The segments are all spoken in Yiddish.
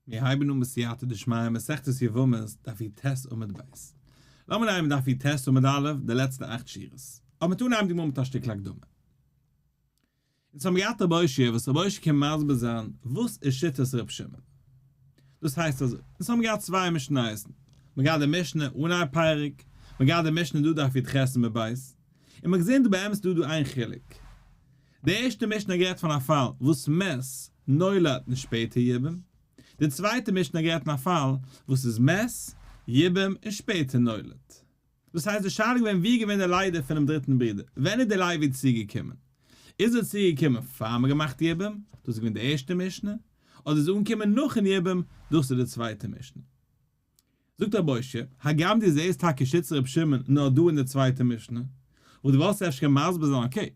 מיר הייבן אן בסייעתא דשמיא מסכת יבמות דף יט עמוד ב'. לאמיר אנהייבן דף יט עמוד א', די לעצטע אכט שורות. אבער מ'טאר אנהייבן די גמרא מיט א שטיקל הקדמה. אונז האבן געהאט רבי אוישע וואס רבי אוישע קען מסביר זיין וואס איז שיטת ר' שמעון. דאס הייסט אזוי, אונז האבן געהאט צוויי משניות. מ'גייט די משנה אן איין פרק, מ'גייט די משנה דא דף יט עמוד ב', און מ'האט געזען דא באמת דא דא איין חילוק. די ערשטע משנה גערעדט פון א פאל וואס מעש נולד און שפעטער יבם, די צווייטע משנה גערעדט פון א פאל וואס איז מעש, יבם און שפעטער נולד. דאס הייסט די שאלה איז געווען ווי איז געווען די ליידער פונעם דריטן ברודער, ווען איז די ליידער צוגעקומען, איז ער צוגעקומען פאר מען האט געמאכט יבם, דאס איז געווען די ערשטע משנה, אדער איז ער אנגעקומען נאכן יבם, דאס איז די צווייטע משנה. זאגט ר' משה, הגם דו זעסט טאקע שצר ר' שמעון נאר דא אין די צווייטע משנה, וואלט דו וואלסט אפשר געקענט מסביר זיין אקעי,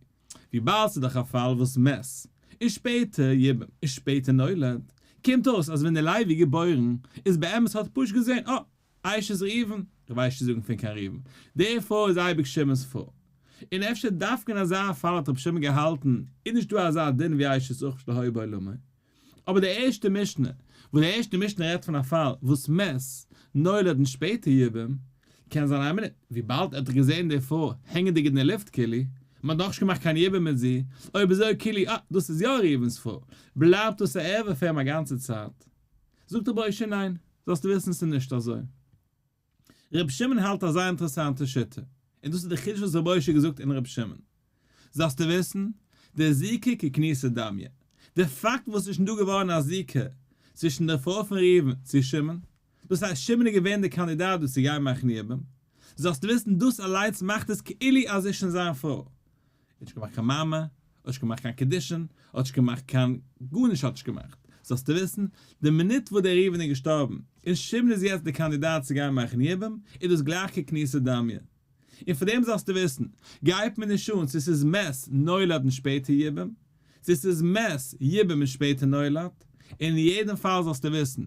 וויבאלד ס'איז דאך א פאל וואס מעש איז שפעטער יבם און שפעטער נולד, קומט אויס אז ווען דער לוי איז געבוירן איז באמת האט פשט געזען אה, אייש איז ראובן, איך ווייס נישט צו זאגן פון קיין ראובן, דערפאר איז אייביג שמעון'ס פאר, און אפשר דווקא אין אזא פאל האט ר' שמעון געהאלטן איז נישט דא אזא דין ווי אייש איז אוכפש להוי בעולמי, אבער די ערשטע משנה, וואס די ערשטע משנה רעדט פון א פאל וואס מ'עס נולד און שפעטע יבם, קען זיין אמת, וויבאלד ער האט דאך געזען די פרוי הענגענדיג אין די לופט כאילו מען האט נאכנישט געמאכט קיין יבום מיט זי, אויב איז אזוי כאילו אה, דאס איז יא ראובן'ס פרוי, בלייבט דאס א ערבה פאר אים א גאנצע צייט? זאגט רבי אשי ניין, זאלסטו וויסן עס איז נישט אזוי. ר' שמעון האלט א זייער אינטערעסאנטע שיטה, און דאס איז די חידוש וואס ר' משה האט געזאגט אין ר' שמעון. זאלסטו וויסן, דער זיקוק איז כניסא דמיא. די פאקט וואס ס'איז שוין דא געווארן א זיקוק צווישן דער פרוי פון ראובן צו שמעון, דאס הייסט שמעון איז געווען דער קאנדידאט דא צו גיין מכניע בם, זאלסטו וויסן דאס אליינס מאכט עס כאילו אז זי איז שוין זיין פרוי. האט נישט געמאכט קיין מעמא, האט נישט געמאכט קיין קידושין, האט נישט געמאכט קיין, גארנישט האט נישט געמאכט, זאלסטו וויסן, די מינוט וואס דער ראובן איז געשטארבן, און שמעון איז יעצט דער קאנדידאט צו גיין מאכן יבום, איז דאס גלייך כקניסת דמיה. און פאר דעם זאלסטו וויסן, גייט מען נישט אן צו ס'איז מעז נולד און שפעטער יבום, צו ס'איז מעז יבום און שפעטער נולד, און אין יעדן פאל זאלסטו וויסן,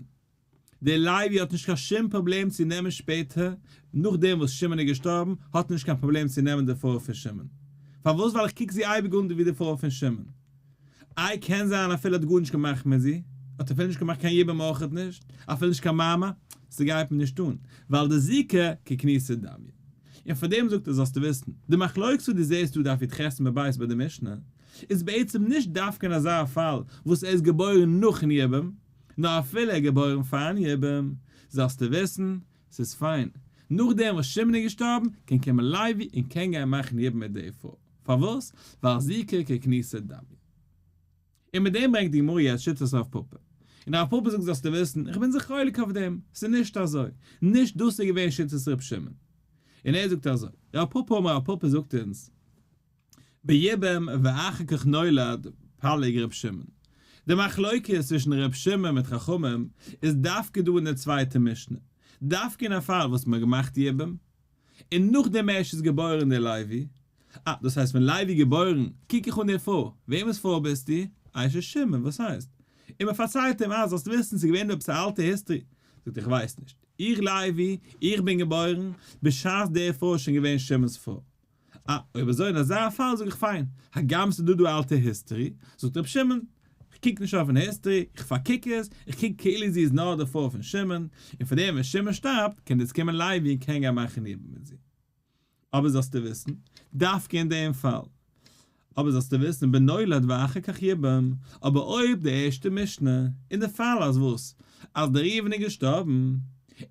דער לוי האט נישט קיין שום פראבלעם צו נעמען שפעטער, נאכדעם וואס שמעון איז געשטארבן, האט ער נישט קיין פראבלעם צו נעמען די פרוי פון שמעון. פארוואס? ווייל איך קוק זי אייביג אן ווי די פרוי פון שמעון. איי קען זיין אפילו האט גארנישט געמאכט מיט זי, האט אפילו נישט געמאכט קיין יבום אויכעט נישט, אפילו נישט קיין מאמע, ס'גייט מיר נישט אן, ווייל די זיקה ככניסת דמי. און פאר דעם זאגט ער זאלסטו וויסן, די מחלוקת וואס דו זעסט דא דף יט ח סימן בית ביי די משנה, איז בעצם נישט דווקא אין אזא פאל וואס ער איז געבוירן נאכן יבום, נאר אפילו ער איז געבוירן פארן יבום, זאלסטו וויסן, ס'איז פיין, נאכדעם וואס שמעון איז געשטארבן, קען קומען לייבי און קען גיין מאכן יבום מיט די פרוי, פארוואס? ווייל זי קען קיין כניסה דמי. און מיט דעם ברענגט די גמרא יעצט שיטת הרב פאפא. און הרב פאפא זאגט זאלסטו וויסן, איך בין זיך חולק אויף דעם, ס'איז נישט אזוי, נישט דאס איז געווען שיטת ר' שמעון. און ער זאגט אזוי, רב פאפא אמר רב פאפא זאגט אונז, בימים ואחר כך נולד פלג ר' שמעון. די מחלוקת צווישן ר' שמעון מיט חכמים איז דווקא דא אין די צווייטע משנה, דווקא אין א פאל וואס מען האט געמאכט יבום, און נאכדעם ערשט איז געבוירן דער לוי, אה, דאס הייסט ווען לוי געבוירן, קוק איך אן דיר פרוי, וועמענס פרוי ביסטו? אה, ר' שמעון, וואס הייסט? און מען פארציילט אים, אה, זאלסט וויסן, ס'איז געווען דא עפעס א אלטע היסטרי, זאגט איך ווייס נישט, איך לוי, איך בין געבוירן, בשעת דער פרוי איז שוין געווען שמעונ'ס פרוי. אה, אויב אזוי אין אזא פאל זאג איך פיין, הגם ס'דא דא אלטע היסטערי, זאגט רבי שמעון, איך קוק נישט אויפן היסטערי, איך פארקוק עס, איך קוק כאילו זי איז נאר דערפאר פון שמעון, און פארדעם ווען שמעון שטארבט קען דעס קומען לייבי און קען גיין מאכן אידן מיט זי. אבער זאלסטו וויסן, דווקא אין דעם פאל, אבער זאלסטו וויסן בנולד ואחר כך יבם, אבער אויב די ערשטע משנה, אין די פאל אז וואס? אז דער ראובן איז געשטארבן,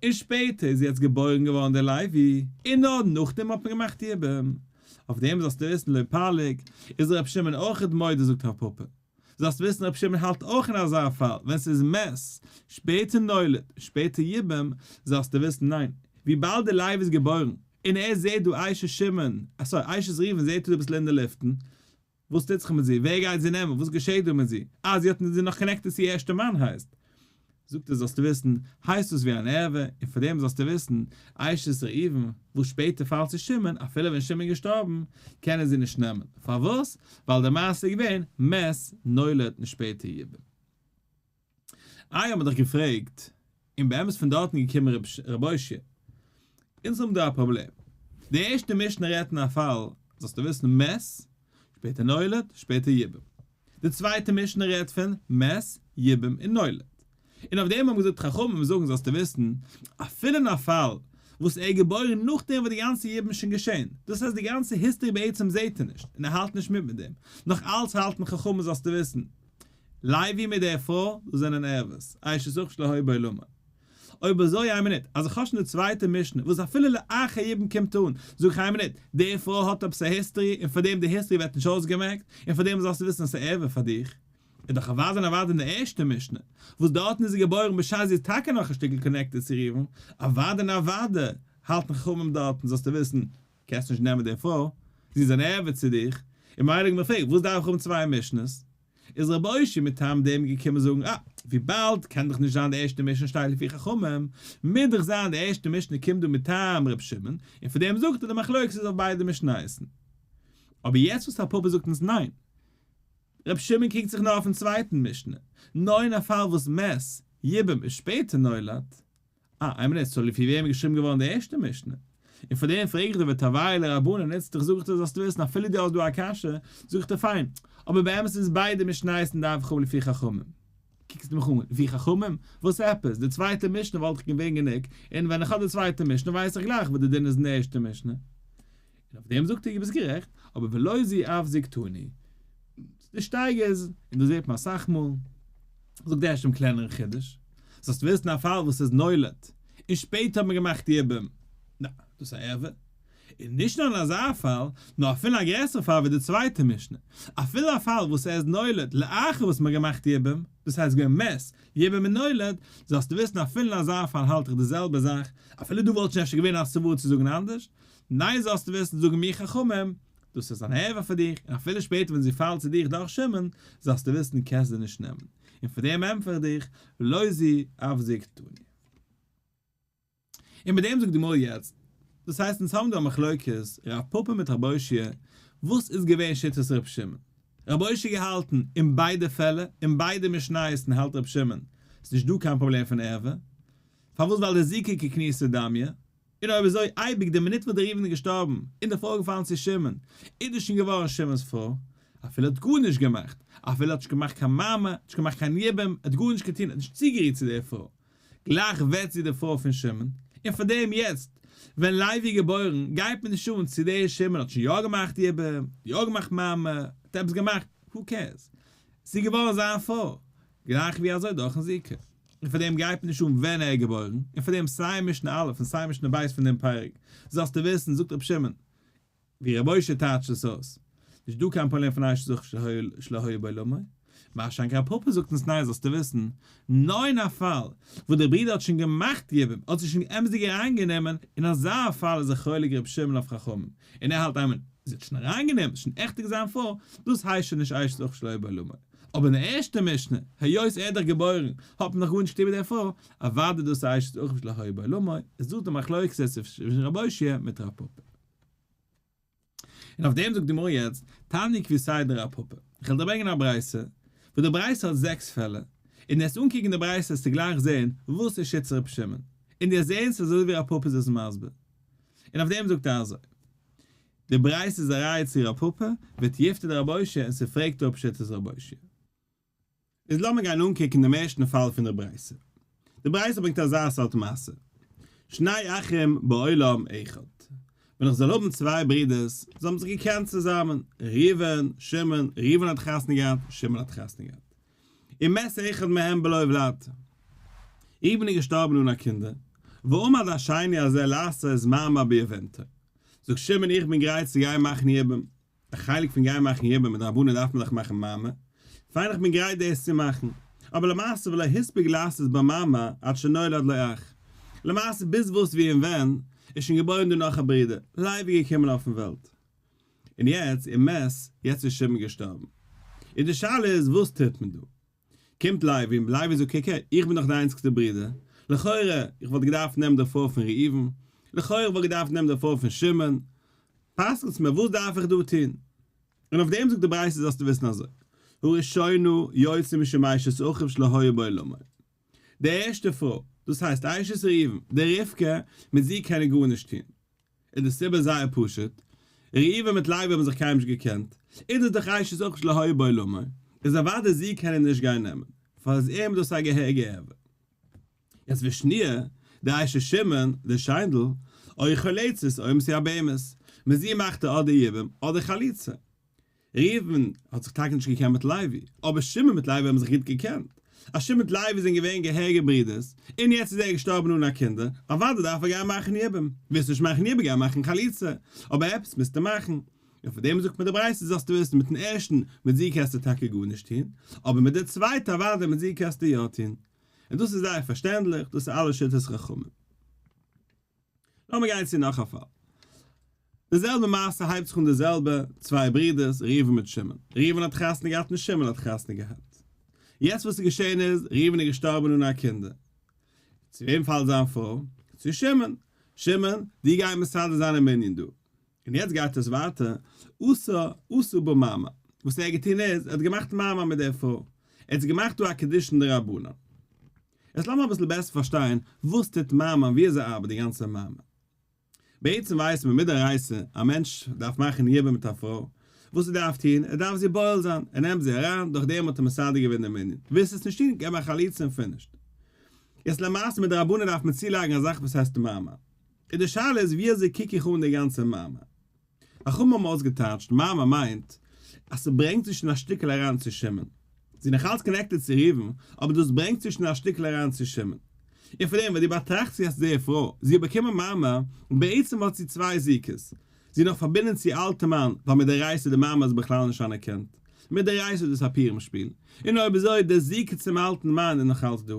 און שפעטער איז יעצט געבוירן געווארן דער לוי, און נאר נאכדעם האט מען געמאכט יבם, אויף דעם זאלסטו וויסן, לא פליג, איז ר' שמעון אויך מודה זאגט רב פפא. זאלסט וויסן רבי שמעון האלט אויך אין אזא פאל, ווען ס'איז מס, שפעטער נולד, שפעטער יבם, זאלסטו וויסן ניין, וויבאלד די לייב איז געבוירן, און ער זעט דא אשת שמעון, סארי, אשת ראובן זעט ער דא אביסל אין די לופטן, וואס טוט זיך מיט זי, ווער גייט זי נעמען, וואס געשעט דא מיט זי, אה זי האט זי איז נאך קאנעקטעד צו איר ערשטע מאן הייסט, זאגט ער זאלסטו וויסן, הייסט דאס ווי אן ערבה, און פאר דעם זאלסטו וויסן, אשת ראובן, וואס שפעטער פאלט צו שמעון, אפילו ווען שמעון איז געשטארבן, קען ער זי נישט נעמען, פארוואס? ווייל די מעשה איז געווען, מת נולד און שפעטער יבא. איי האבן מיר דיך געפרעגט, און באמת פון דארטן איז געקומען רבי אושיע. אונז האבן דא א פראבלעם. די ערשטע משנה רעדט אין א פאל, זאלסטו וויסן, מת, שפעטער נולד, שפעטער יבא. די צווייטע משנה רעדט פון מס יבום און נולד, און אויף דעם האבן געזאגט חכמים זאגן זאלסטו וויסן, אפילו אין א פאל וואס ער איז געבוירן נאכדעם וואס די גאנצע יבום איז שוין געשען, דאס הייסט די גאנצע היסטארי בעצם זעהט ער נישט און ער האלט נישט מיט מיט דעם, נאך אלץ האלטן חכמים זאלסטו וויסן, לייבי מיט די פרוי, דאס זענען ערבות, אשת אח שלא הי' בעולמו. אויב אזוי איין מינוט, אז איך האב שוין די צווייטע משנה, וואס אפילו לאחר יבם קומט אן, זאג איך איין מינוט, די פרוי האט עפעס א היסטערי און פאר דעם די היסטערי ווערט נישט אויסגעמעקט, און פאר דעם זאלסטו וויסן אז ס'איז עובר פאר דיך. איז דאך אוודאי און אוודאי אין די ערשטע משנה, וואס דארטן איז זי געבוירן בשעת זי איז טאקע נאך א שטיקל קאנעקטעד צו ראובן, אוודאי און אוודאי האלטן חכמים דארטן זאלסטו וויסן, קענסט נישט נעמען די פרוי, זי איז אן עובר צו דיך, און ממילא איז מיר פרעגט, וואס דארף איך האבן צוויי משנות? איז רבי אושי מטעם דעם געקומען זאגן אה, וויבאלד קען דאך נישט זיין די ערשטע משנה שטייט לפי חכמים, מוז דאך זיין די ערשטע משנה קומט דא מטעם רבי שמעון, און פון דעם זאגט ער די מחלוקת איז אויף ביידע משניות. אבער יעצט וואס הפאפא זאגט אונז ניין, רבי שמעון קוקט זיך נאר אויפן צווייטן משנה, נאר אין א פאל וואס מס. יבם איז שפעטער נולד, אה, אמת איז, צוליב פון וועם איז געשריבן געווארן די ערשטע משנה. און פאר דעם פרעג איך דיר וטביה לרבנן, איצט איך זאג איך דיר זאלסט וויסן אפילו דו האסט דא א קשיא, זאג איך דיר פיין, אבער באמת איז ביידע משניות נדבכו לפי חכמים. קוקסט מיך אן, לפי חכמים? וואס עפעס? די צווייטע משנה וואלט דאך געווען גענוג, און ווען איך האב די צווייטע משנה ווייס איך גלייך וואס די דין איז אין די ערשטע משנה. און אויף דעם זאגט ער ביסט גערעכט, אבער ולא זי אף זיגתני, די שטייגער איז, און דאס זעט מען אסאך מאל, זאגט ערשט דעם קלענערן חידוש, דאס הייסט ווילסט אין א פאל וואס איז נולד, און שפעטער האט מען געמאכט די יבום, ניין, דאס איז א עבר, און נישט נאר אין אזא פאל, נאר אפילו א גרעסערע פאל ווי די צווייטע משנה, אפילו א פאל וואס ער איז נולד לאחר וואס מען האט געמאכט די יבום, דאס הייסט געווען מת, יבום און נולד, זאלסטו וויסן אפילו אין אזא פאל האלט איך די זעלבע זאך, אפילו דא וואלט שוין אפשר געווען א סברא צו זאגן אנדערש, ניי זאלסטו וויסן זאגן מיר חכמים, דאס איז אן עבר פאר דיך, און אפילו שפעטער ווען זי פאלט צו דיך דורך שמעון, זאלסטו וויסן דו קענסט זי נישט נעמען, און פאר דעם ענטפער איך דיך, לא זי אף זי קטני. און מיט דעם זאגט די מא יעצט, דאס הייסט אונז האבן דא א מחלוקת ר' פפא מיט ר' אושיה, וואס איז געווען שיטת ר' שמעון? ר' אושיה געהאלטן אין ביידע פעלער, אין ביידע משניות'ן האלט ר' שמעון, ס'איז נישט דא קיין פראבלעם פון עבר, פארוואס ווייל די זיקוקי כניסא דמיא, און אויב אזוי אייביג די מינוט וואס די ראובן איז געשטארבן און די פרוי איז געפאלן צו שמעון איז דאס שוין געווארן שמעון'ס פרוי, אפילו האט גארנישט געמאכט, אפילו האט נישט געמאכט קיין מאמע, האט נישט געמאכט קיין יבום, האט גארנישט געטון, האט נישט צוגערירט צו דער פרוי, גלייך ווערט זי די פרוי פון שמעון, און פאר דעם יעצט ווען לייבי איז געבוירן גייט מען נישט אן צו דער שמעון האט שוין יא געמאכט יבום, יא געמאכט מאמע, האט עפעס געמאכט, הו קעירס, זי איז געווארן זיין פרוי, גלייך ווי אזוי דורכן זיקה, און פאר דעם גייט מען נישט אן ווען ער איז געבוירן, און פאר דעם סיי משנה א' און סיי משנה ב' פון דעם פרק זאלסטו וויסן, זאגט רבי שמעון, ווי רבי משה טייטשט עס אויס, נישט דא קיין פארלערן פון אש זכר שלא היה בעולמו, מה שאין כן פאפא זאגט אונז ניין זאלסטו וויסן, נאר אין א פאל וואס דער ברודער האט שוין געמאכט יבום, האט זיך שוין אמת'דיג אריינגענומען, אין אזא פאל איז ער חולק רבי שמעון אויף חכמים, און ער האלט אמן, זי האט שוין אריינגענומען, עס איז שוין עכט'דיג זיין פרוי, דאס הייסט שוין נישט אש זכר שלא היה בעולמו, אבער אין די ערשטע משנה, היות ער איז דאך געבוירן, האט מען דאך גארנישט איבער דערפאר, אוודאי דאס אייש איז אויך נישט לא היה בעולמו, איז דאס די מחלוקת צווישן רבי הושע מיט רב פפא. און אויף דעם זאגט די גמרא יעצט, תני קבי' סי' דרב פפא, איך וועל דיר ברענגען א ברייתא, וואס די ברייתא האט זעקס פעלער, און די וועסט אנקוקן די ברייתא וועסטו גלייך זען וואס ער שיצט רבי שמעון, און די וועסט זען ס'איז אזוי ווי רב פפא איז עס מסביר, און אויף דעם זאגט ער אזוי, די ברייתא איז א ראיה צו ר' פפא, ואת יפתה דר' משה און ס'פרעגט אפ שיטת ר' משה. איז לאמיר גיין אנקוקן דעם ערשטן פאל פון דער ברייתא. די ברייתא ברענגט אזא סארט מעשה, שני אחים בעולם אחד, ווען איך זאל האבן צוויי ברודערס, זיי האבן זיך געקענט צוזאמען, ראובן, שמעון, ראובן האט חתונה געהאט, שמעון האט חתונה געהאט. און מעשה אחד מהם בלא עוולתא. איבן איז געשטארבן אן א קינדער, ועמד השני הזה לעשות איז מאמר ביובנתו. זאגט שמעון איך בין גרייט צו גיין מאכן יבום. א חלק פון גיין מאכן יבום מדרבנן דארף מען דאך מאכן מאמר. פיין איך בין גרייט דאס צו מאכן. אבער למעשה ולא הספיק לעשות בה מאמר עד שנולד לו אח. למעשה ביז וואס ווי און ווען איז שוין געבוירן דא נאך א ברודער, לייב איז געקומען אויפן וועלט. און יעצט איר מעסט, יעצט איז שמעון געשטארבן. און די שאלה איז וואס טוט מען דא? קומט לייבי און לייבי זאגט קוק הער, איך בין דאך די איינציגסטע ברודער, לכאורה איך וואלט געדארפט נעמען די פרוי פון ראובן, לכאורה איך וואלט געדארפט נעמען די פרוי פון שמעון, פסק'נטס מיר וואס דארף איך דא טון? און אויף דעם זאגט די ברייתא זאלסטו וויסן אזוי, הראשונה יוצא משמיישת אחיו שלא היה בעולמו. די ערשטע פרוי, דאס הייסט אשת ראובן, די רבקה, מיט זי קען ער גארנישט טון, איז די סיבה זייער פשוט, ראובן מיט לוי האבן זיך קיינמאל נישט געקענט, און איז דאך אשת אח שלא היה בעולמו, איז אוודאי זי קען ער נישט גיין נעמען, פאר איז אים דאס א געהעריגע עוולה. יעצט ווי שניר, די אשת שמעון, די שיינדל, אוי חליצות, אוי מסי א בהמות, מיט זי מאכט ער אדער יבום אדער חליצה. ראובן האט זיך טאקע נישט געקענט מיט לוי, אבער שמעון מיט לוי האבן זיך גוט געקענט. אז שמעון מיט לוי זענען געווען געהעריגע ברודערס, און יעצט איז ער געשטארבן אן א קינדער, אוודאי דארף ער גיין מאכן יבום. ווילסט נישט מאכן יבום גיי מאכן חליצה, אבער עפעס מוזטו מאכן. און פון דעם זאגט מען די ברייתא זאלסטו וויסן, מיטן ערשטן מיט זיד קענסטו טאקע גארנישט טון, אבער מיט די צווייטע אוודאי מיט זיד קענסטו יא טון. און דאס איז זייער פארשטענדליך, דאס איז אלע שיטות חכמים. לאמיר גיין צו נאך א פאל. די זעלבע מעשה הייבט זיך אן די זעלבע צוויי ברידערס ראובן מיט שמעון. ראובן האט חתונה געהאט און שמעון האט חתונה געהאט. יעצט וואס איז געשען איז, ראובן איז געשטארבען אן א קינדער. צו וועם פאלט זיין פרוי? צו שמעון. שמעון, דו גיי מסדר זיין א מנין דא. און יעצט גייט עס ווייטער, עשה עשה בה מאמר, וואס ער האט געטון איז, ער האט געמאכט מאמר מיט דער פרוי, ער האט זי געמאכט דא א קידושין דרבנן. יעצט לאמיר אביסל בעסער פארשטיין וואס טוט מאמר און ווי אזוי ארבעט די גאנצע מאמר. בעצם ווייסן מיר מדאורייתא, א מענטש דארף מאכן יבום מיט א פרוי, וואס ער דארף טון, ער דארף זי בועל זיין, ער נעמט זי אריין, דורך דעם האט ער מסדר געווען די מנין, ווילסט עס נישט טון, געב א חליצה און פינישט. יעצט למעשה מדרבנן דארף מען צולייגן א זאך וואס הייסט מאמר. איז די שאלה איז ווי אזוי קוק איך אן די גאנצע מאמר. חכמים האבן אויסגעטייטשט מאמר מיינט אז ס'ברענגט צווישן א שטיקל אריין צו שמעון. ס'איז נאך אלץ קאנעקטעד צו ראובן, אבער דאס ברענגט צווישן א שטיקל אריין צו שמעון. און פון דעם וואס דו באטראכסט זי האסט דער פרוי, זי האט באקומען מאמר, בעצם האט זי צוויי זיקות. זי נאך פארבינדן צו אלטע מאן, ווייל מיט די רייס איז די מאמר איז בכלל נישט אנערקענט. מיט די רייס איז דאס א פירם שפיל. און אויב אזוי, די זיקה צום אלטן מאן איז נאך אלץ דא.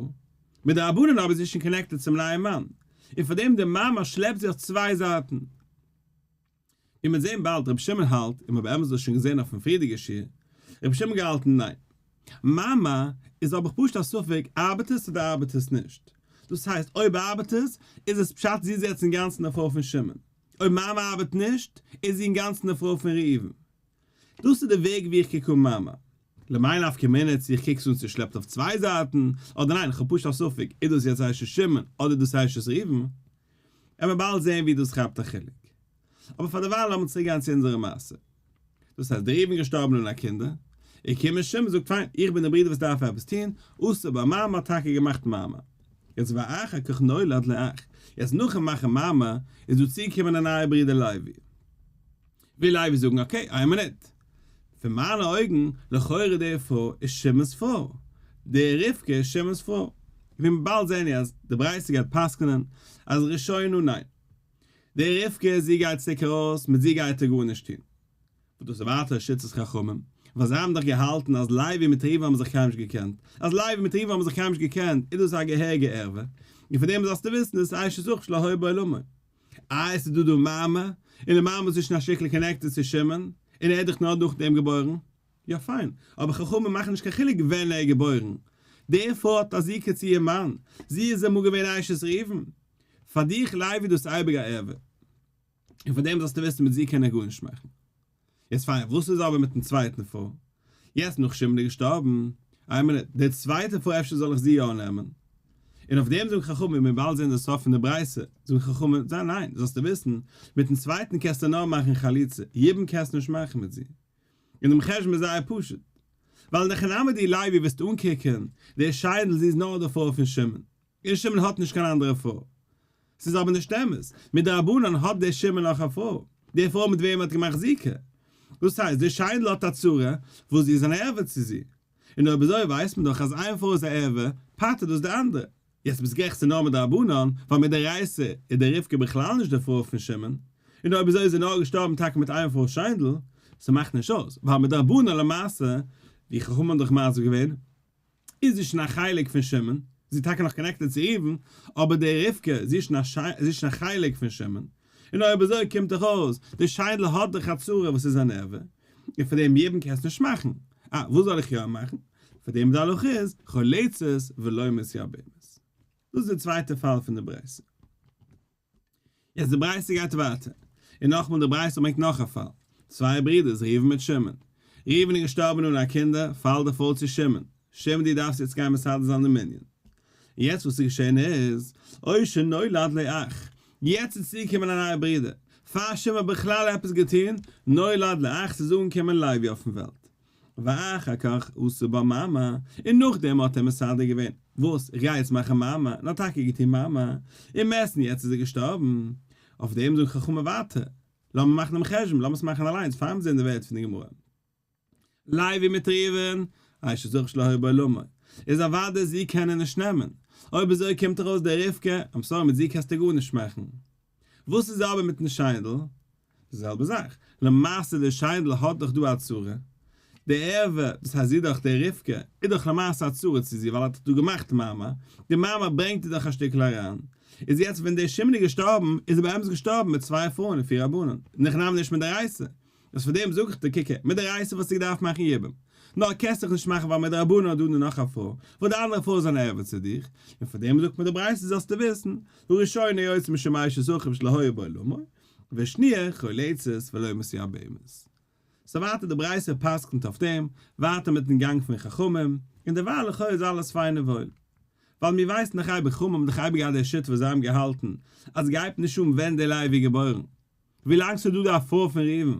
מיט די רבנן אבער איז זי שוין קאנעקטעד צום נייעם מאן, און פאר דעם די מאמר שלעפט זי אויף צוויי זייטן. איר מוז זען באלד רבי שמעון האלט און מ'האב עמעץ דאס שוין געזען אויפן פריעדיגע שיעור, רבי שמעון געהאלטן ניין. מאמר איז האב איך פשוט א ספק ארבעט עס אדער ארבעט עס נישט. דאס הייסט אויב ארבעט עס, איז עס פשט זי איז יעצט אינגאנצן די פרוי פון שמעון. אויב מאמר ארבעט נישט, איז זי אינגאנצן די פרוי פון ראובן. דאס איז די וועג ווי איך קוק אן מאמע. למאי נפקא מינה צו איך קוק עס אן צושלעפט אויף צוויי זייטן אדער ניין, כ'האב פשוט א ספק איז דאס יעצט עשה שמעון אדער דאס עשה ראובן, עמער באלד זעהן ווי דאס כאפט א חילוק. אבער פאר דערווייל לאמיר צוריק גיין צו אונזערע מעשה. דאס הייסט דער ראובן געשטארבן אן א קינדער, און קומען שמעון זאגט פיין איך בין דער ברודער וואס דארף עפעס טון, עשה בה מאמע האט טאקע געמאכט מאמע. יעצט ואחר כך נולד לאח, יעצט נאכן מאכן מאמע איז דא צוגעקומען א נייער ברודער לוי. וויל אייוועלט זאגן אקעי איין מינוט, פון מיינע אויגן, לכאורה די פרוי איז שמעון'ס פרוי, די רבקה איז שמעון'ס פרוי, ווען באלד זעען מיר אז די ברייתא גייט פסק'נען אז ראשונו ניין, די רבקה זי גייט צוריק ארויס, מיט זי גייט ער גארנישט טון, וואס דאס איז ווייטער א שיטת חכמים, ווייל זיי האבן דאך געהאלטן אז לייבי מיט ראובן האבן זיך קיינמאל נישט געקענט, אז לייבי מיט ראובן האבן זיך קיינמאל נישט געקענט איז דאס א געהעריגע ערוה, און פון דעם זאלסטו וויסן דאס איז עיי ש זכות שלא היה בעולמו. אה, עס איז דא דא מאמע, און די מאמע איז נישט אין א שטיקל קאנעקטעד צו שמעון, און ער איז דאך נאר נאכדעם געבוירן. יא פיין, אבער חכמים מאכן נישט קיין חילוק ווען ער איז געבוירן. די פרוי האט א זיקה צו איר מאן, זי איז אמאל געווען אשת ראובן. פאר דיך לייבי איז דאס אייביג א ערוה. און פארדעם זאלסטו וויסן מיט זי קען ער גארנישט מאכן. יעצט פיין, וואס איז אבער מיטן צווייטן פאר? יעצט נאך שמעון איז געשטארבן, איין מינוט, די צווייטע פאר אפשר זאל איך זי יא נעמען? און אויף דעם זאגן חכמים, און מיר באלד זעהן די סוף פון די ברייתא, זאגן חכמים, זיי ניין, זאלסטו וויסן, מיטן צווייטן קענסטו נאר מאכן חליצה, יבם קענסטו נישט מאכן מיט זי. און דעם חשבון איז זייער פשוט. ווייל נחנא מיט די לייבי וועסטו אנקוקען, די שיינדל זי איז נאר די פאר פון שמעון. און שמעון האט נישט קיין אנדערע פרוי. ס'איז אבער נישט אמת. מדרבנן האט דער שמעון נאך א פרוי, די פרוי מיט וועם ער האט געמאכט זיקה. דאס הייסט, די שיינדל האט א צרה, וואס זי איז אן ערווה צו זי. און אויב אזוי ווייסט מען דאך אז איין פרוי איז א ערווה, פטר'ט דאס די אנדערע. יעצט ביסט גערעכט ס'איז נאר מדרבנן, ווייל מדאורייתא איז די רבקה בכלל נישט די פרוי פון שמעון, און אויב אזוי איז זי נאר געשטארבן טאקע מיט איין פרוי'ס שיינדל. ס'מאכט נישט אויס, ווייל מדרבנן למעשה, ווי חכמים האבן דאך מסביר געווען, איז זי שוין א חלק פון שמעון, זי איז טאקע נאך קאנעקטעד צו ראובן, אבער די רבקה, זי איז שוין א חלק פון שמעון, און אויב אזוי קומט דאך אויס, די שיינדל האט דאך א צרה וואס איז א נערווע, און פאר דעם יבם קענסט נישט מאכן, אה, וואס זאל איך יא מאכן? פאר דעם די הלכה איז, חולצת ולא מסיע בהמות. דאס איז די צווייטע פאל פון די ברייתא. יעצט די ברייתא גייט ווייטער, און נאכמאל די ברייתא ברענגט נאך א פאל, צוויי ברידערס ראובן מיט שמעון, ראובן איז געשטארבען אן א קינדער, פאלט די פאל צו שמעון, שמעון דו דארפסט יעצט גיין מסדר זיין די מנין, יעצט וואס איז געשען איז, אוי שנולד לי אח, יעצט איז צוגעקומען א נייע ברידער, פאר שמעון האט בכלל עפעס געטון, נולד לי אח, ס'איז אנגעקומען לוי אויפן וועלט, ואחר כך עשה בה מעמא, און נאכדעם האט ער מסדר געווען, וואס? איך גיי יעצט מאכן מעמא, און האט טאקע געטון מעמא, און מעשן יעצט איז ער געשטארבן. אויף דעם זאגן חכמים ווייטער, לאמיר מאכן דעם חשבון, לאמיר עס מאכן אליינס פאר מיר זעען די ווערטער פון די גמרא. לייבי מיט ראובן, עיי ש זכר שלא היה בעולמו, איז אוודאי זי קען ער נישט נעמען, אויב אזוי קומט ארויס די רבקה, איים סארי מיט זי קענסטו גארנישט מאכן. וואס איז אבער מיטן שיידל? די זעלבע זאך. למעשה די שיידל האט דאך דא א צרה. די ערווה, דאס הייסט זי דאך די רבקה, איז דאך למעשה א צרה צו זי ווייל האט דא געמאכט מאמע, די מאמע ברענגט איר דאך א שטיקל אריין. איז יעצט ווען די שמן איז געשטארבן, איז ער באמת געשטארבן מיט צוויי פרויען און פיר א בנן. נאכנאמען נישט מדאורייתא. וואס פאר דעם זאג איך דיר קוק הער מיט די רייסער וואלסטו געדארפט מאכן יבום נאר קענסט דיך נישט מאכן ווייל מדרבנן האט דא די נאך א פרוי וואס די אנדערע פרוי איז אן ערוות צו דיך און פאר דעם זאגט מען די ברייתא זאלסטו וויסן וראשונה יוצא משום אשת אחיו שלא היה בעולמו והשניה חול עצות ולא מסיע בהמות סאו ווייטער די ברייתא פסק'נט אויף דעם ווייטער מיטן גאנג פון חכמים און דערווייל לכאו' איז אלעס פיין און וואויל ווייל מיר ווייסן דאך אייביג חכמים האבן דאך אייביג געהאט די שיטה וואס זיי האבן געהאלטן אז גייט נישט אן ווען די לייב איז געבוירן. ווילאנג ס'איז דא די אפרוה פון ראובן,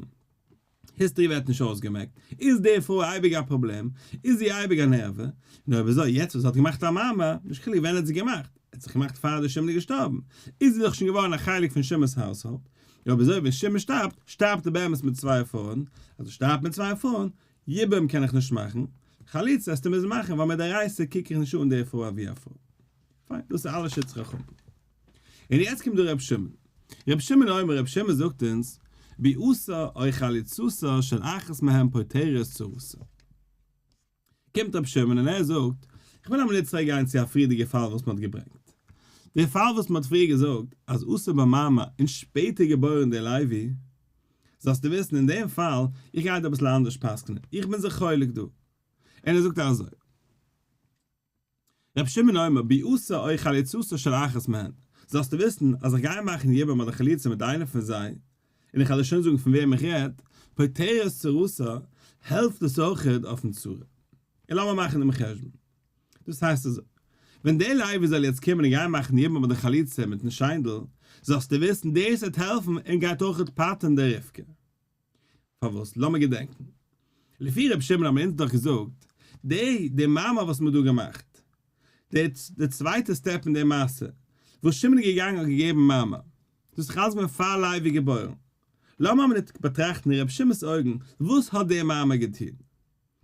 היסטערי ווערט נישט אויסגעמעקט, איז די פרוי אייביג א פראבלעם, איז זי אייביג אן ערווה, און אויב אזוי יעצט וואס זי האט געמאכט א מאמר, נישט חילוק ווען האט זי געמאכט, ער האט זיך געמאכט פאר די שמעון איז געשטארבן, איז זי דאך שוין געווארן א חלק פון שמעון'ס האוזהאלד, און אויב אזוי ווען שמעון שטארבט, שטארבט ער באמת מיט צוויי פרויען, אז ער שטארבט מיט צוויי פרויען, יבום קען איך נישט מאכן, חליצה העסטו מוזן מאכן, ווייל מיט די רייסער קוק איך נישט אן די פרוי אווי א פרוי. פיין, דאס איז אלע שטץ חכמים. און יעצט קומט דא רבי שמעון. רבי שמעון אומר, רבי שמעון זאגט אונז, ביאוסא אוי חליצותא של אחת מהן פותרת צרותא. קומט רבי שמעון און ער זאגט, איך וויל אמאל יעצט צוריק גיין צו א פריערדיגע פאל וואס מ'האט געברענגט. די פאל וואס מ'האט פריער געזאגט אז אסור ביי מאמע און שפעטער געבוירן די לייבי. זאלסטו וויסן אין דעם פאל, איך גיי דא אביסל אנדערש פסק'נען, איך בין זיך חולק דא. און ער זאגט אזוי. רבי שמעון אומר ביעסה אוי חליצתו של אחת מהן, זאלסטו וויסן אז איך גיי מאכן יבם אדער חליצה מיט איינע פון זיי, און איך וועל דיר שוין זאגן פון וועם איך רעד, פותרת צרתה, העלפט דאס אויך אויפן צרה. און לאמיר מאכן דעם חשבון. דאס הייסט אזוי, ווען דער לייביש זאל יעצט קומען און גיין מאכן יבם אדער חליצה מיטן שיינדל, זאלסטו וויסן דאס וועט העלפן און גייט אויך פטר'ן דער רבקה. פארוואס? לאמיר געדענקן. לפי ר' שמעון האבן אונז דאך געזאגט, די די מעמא וואס מ'האט דא געמאכט, די די צווייטע סטעפ אין די מעשה, וואס שמעון איז געגאנגען האט געגעבן מעמא, דאס איז אלס געווען פאר לייב איז געבוירן. לאמיר אבער ניט באטראכטן אין ר' שמעון'ס אויגן, וואס האט די מעמא געטון?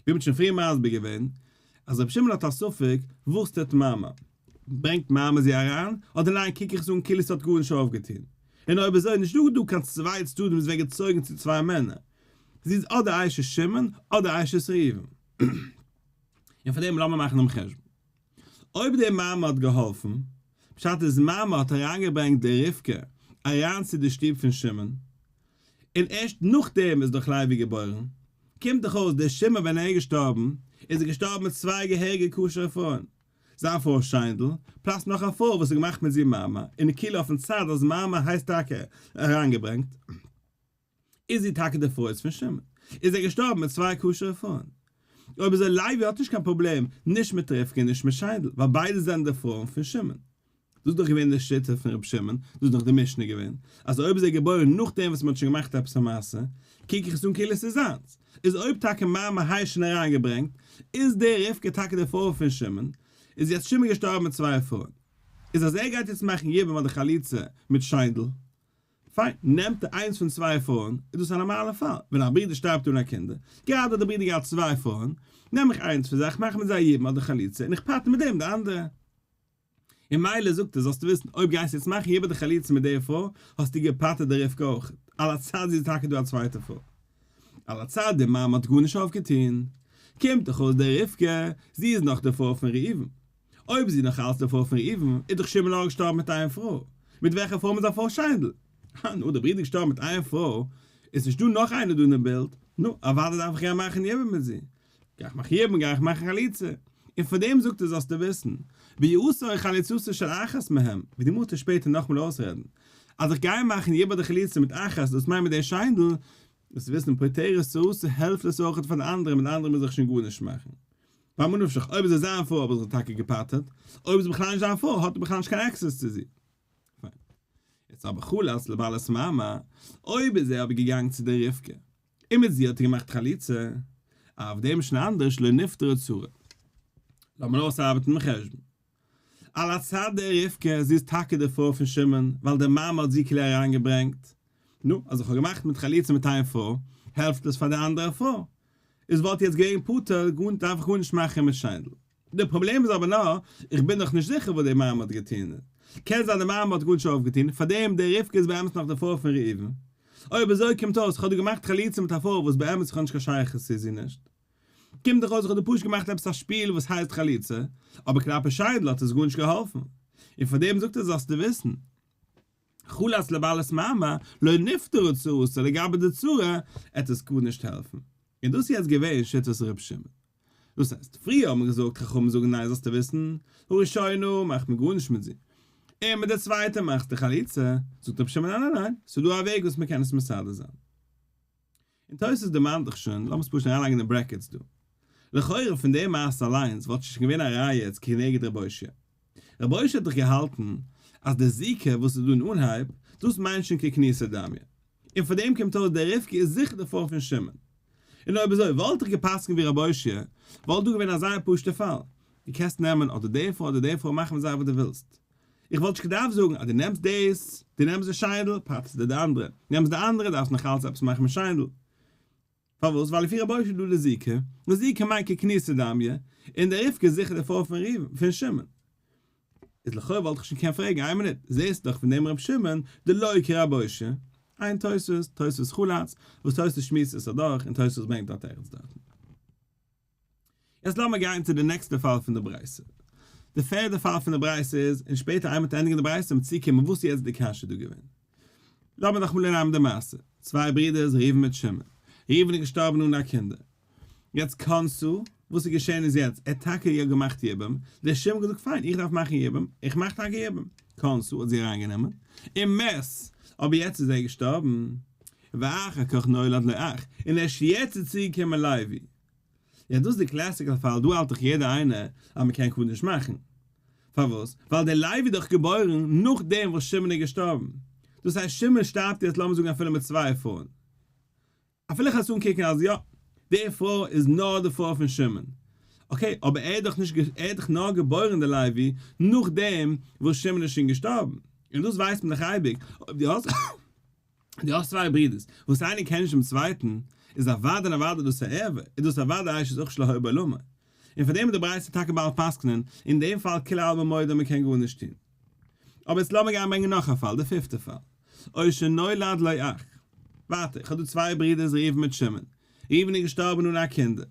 ווי מ'האט שוין פריער מסביר געווען, אז רבי שמעון האט א ספק וואס טוט מאמע, ברענגט מאמע זי אריין, אדער ניין קוק איך עס אן כאילו ס'האט גארנישט אויפגעטון, און אויב אזוי איז נישטא דא קיין צוויי צדדים וואס ווערט געצויגן צו צוויי מענער, זי איז אדער אשת שמעון אדער אשת ראובן, און פאר דעם לאמיר מאכן דעם חשבון. אויב די מאמע האט געהאלפן, פשט איז מאמע האט אריינגעברענגט די רבקה אריין צו די שטוב פון שמעון, און ערשט נאכדעם איז דאך לוי געבוירן, קומט דאך אויס דער שמעון ווען ער איז געשטארבן איז ער געשטארבן מיט צוויי געהעריגע כשר'ע פרויען, זיין פרוי שיינדל, פלאס נאך א פרוי וואס האט געמאכט מיט זי מאמע, און כאילו אויפן צד אז מאמע הייסט טאקע אריינגעברענגט. איז זי טאקע די פרוי פון שמעון? איז ער געשטארבן מיט צוויי כשר'ע פרויען? אויב אזוי לייבי האט נישט קיין פראבלעם נישט מיט רבקה און נישט מיט שיינדל ווייל ביידע זענען די פרויען פון שמעון. דאס איז דאך געווען די שיטה פון רבי שמעון, דאס איז דאך די משנה געווען, אז אויב איז ער געבוירן נאכדעם וואס מען האט שוין געמאכט עפעס א מעשה, קוק איך עס אן כאילו עס איז זיינס. איז אויב טאקע מאמע האי שוין אריינגעברענגט, איז די רבקה טאקע די פרוי פון שמעון, איז יעצט שמעון געשטארבן מיט צוויי פרויען. איז אז ער גייט יעצט מאכן יבום אדער חליצה מיט שיינדל, פיין, נעמט ער איינס פון צוויי פרויען, איז דאס א נארמאלער פאל, ווען א ברודער שטארבט אן א קינדער, גראדע האט דער ברודער געהאט צוויי פרויען, נעם איך איינס פון זיי, איך מאך מיט זיי א יבום אדער חליצה, און איך פטר מיט דעם די אנדערע. און מילא זאגט ער, זאלסטו וויסן, אויב גייסטו יעצט מאכן יבום אדער חליצה מיט דער פרוי, האסטו געפטר'ט די רבקה אויך, על הצד זי איז טאקע דא א צווייטע פרוי. על הצד די מאמע האט גארנישט אויפגעטון. קומט דאך אויס די רבקה, זי איז נאך די פרוי פון ראובן. אויב איז זי נאך אלץ די פרוי פון ראובן, איז דאך שמעון אויך געשטארבן מיט איין פרוי, מיט וועלכע פרוי מיט זיין פרוי שיינדל? אה, נו, די ברודער איז געשטארבן מיט איין פרוי, איז נישט דא נאך איינער דא אין דעם בילד, נו, אוודאי דארף איך איר מאכן יבם מיט זי, גיי איך מאכן יבם, גיי איך מאכן חליצה, און פאר דעם זאגט ער זאלסטו וויסן, ויעשו חליצתו של אחת מהם, ווי די מוזט עס שפעטער נאכמאל אויסרעדן, אז איך גיי מאכן יבם אדער חליצה מיט אחת, דאס מיינט מיט די שיינדל, דאס וויסן פותרת צרות, העלפט עס אויך פאר די אנדערע, מיט די אנדערע מוז איך שוין גארנישט מאכן. פאר מנין נפשך, אויב איז עס זיין פרוי האב איך זיך טאקע געפאטערט, אויב איז בכלל נישט זיין פרוי האט ער בכלל נישט קיין עקסעס צו זי. פיין. יעצט אבער חלת לבעלת מאמע, אויב איז ער אבער געגאנגען צו די רבקה, און מיט זי האט ער געמאכט חליצה, אויף דעם איז שוין אנדערש, לא נפטרה צרה. לאמיר אויסארבעטן דעם חשבון. על הצד דער רבקה, זי איז טאקע די פרוי פון שמעון, ווייל די מאמע האט זי כלער אריינגעברענגט. נו, אז איך האב געמאכט מיט חליצה מיט איין פרוי, העלפט עס פאר די אנדערע פרוי. איז וואלט יעצט געווען פטור, דארף איך גארנישט מאכן מיט שיידל. די פראבלעם איז אבער נאר, איך בין דאך נישט זיכער וואס די מאמע האט געטון. קען זיין די מאמע האט גארנישט אויפגעטון, פארדעם די רבקה איז באמת נאך די פרוי פון ראובן. אויב אזוי קומט אויס, איך האב דא געמאכט חליצה מיט א פרוי וואס באמת איך האב נישט קיין שייכות צו זי נישט. קומט דאך אויס איך האב דא פשוט געמאכט עפעס א שפיל וואס הייסט חליצה, אבער כלפי שיידל האט עס גארנישט געהאלפן, און פארדעם זאגט ער זאלסטו וויסן, חלת לבעלת מאמה לא נפטרה צרותו לגבי די צרה עט עס גארנישט העלפן, איז דאס יעצט געווען שיטת ר' שמעון? דאס הייסט, פריער האט מען געזאגט חכמים זאגן ניין זאלסטו וויסן, הראשונה מאכט מען גארנישט מיט זי, און מיט די צווייטע מאכסטו חליצה, זאגט ר' שמעון ניין ניין ניין, ס'איז דא א וועג וואס מ'קען עס מסדר זיין. און תוס' דערמאנט דאך שוין, לאמיר עס פשוט אריינלייגן אין ברעקעטס דא. לכאורה פון די מעשה אליינס וואלט שוין געווען א ראיה צו כנגד רבי הושע. רבי הושע האט דאך געהאלטן אז די זיקה וואס איז דא אין אנהייב, דאס מיינט שוין כקניסא דמיא. און פון דעם קומט אויס די רבקה איז זיכער די פרוי פון שמעון. און אויב אזוי וואלט איך געפסקנט ווי רבי הושע, וואלט דא געווען א זייער פשוט'ע פאל. דו קענסט נעמען אדער די פרוי אדער די פרוי, מאך מיט זיי וואס דו ווילסט. איך וואלט נישט געדארפט זאגן אז דו נעמסט דאס, דו נעמסט די שיידל, פאצט דיר די אנדערע, נעמסט די אנדערע, דארפסט נאך אלץ עפעס מאכן מיט שיידל. פארוואס? ווייל לפי רבו של דא די זיקה, און זיקה מיינט ככניסא דמיא, און די רבקה איז זיכער די פרוי פון ראובן, פון שמעון. איז לכאו' וואלט איך שוין געקענט פרעגן, איין מינוט, זעסט דאך פון דעם ר' שמעון, די לא הכיר רבו ש, עיין תוס', תוס' חלץ, וואס תוס' שמועסט עס אדורך, און תוס' ברענגט דארט ערגעץ דארטן. יעצט לאמיר גיין צו די נעקסטע פאל פון די ברייתא. די פערדע פאל פון די ברייתא איז, און שפעטער איינמאל מ'האט ענדיגן די ברייתא וועט מען צוקומען וואס איז יעצט די קשיא דא געווען. לאמיר נאכאמאל אננעמען די מעשה, צוויי ברודערס ראובן מיט שמעון. ראובן איז געשטארבן אן א קינדער. יעצט קאנסו, וואס איז געשען איז יעצט, ער האט טאקע יא געמאכט יבום, דער שמעון האט געזאגט פיין איך דארף מאכן יבום, איך מאך טאקע יבום. קאנסו האט זי אריינגענומען, און מעש, אבער יעצט איז ער געשטארבן. ואחר כך נולד לו אח, און ערשט יעצט איז צוגעקומען לוי. איז דאס די קלאסיקעל פאל, דא האלט דאך יעדער איינער אז מען קען קדיש מאכן. פארוואס? ווייל דער לוי איז דאך געבוירן נאכדעם וואס שמעון איז געשטארבן. דאס הייסט שמעון שטארבט יעצט לאמיר זאגן אפילו מיט צוויי פרויען. אפילו כאטש אנקוקן אז יא, די פרוי איז נאר די פרוי פון שמעון. אקעי, אבער ער איז דאך נישט, ער איז דאך נאר געבוירן דער לוי נאכדעם וואס שמעון איז שוין געשטארבן. און דאס ווייסט מען דאך אייביג. אויב דו האסט. דו האסט צוויי ברודערס וואס איינער קען נישט דעם צווייטן, איז אוודאי און אוודאי דאס א ערווה, איז דאס אוודאי אשת אח שלא היה בעולמו. און פאר דעם איז די ברייתא טאקע בעל פסק'נען, אין דעם פאל כולי עלמא מודי מען קען גארנישט טון. אבער יעצט לאמיר גיין ברענגען נאך א פאל, דער פיפטער פאל. או שנולד לו אח. ווארט, איך האב דא צוויי ברודערס ראובן מיט שמעון. ראובן איז געשטארבן אן א קינדער.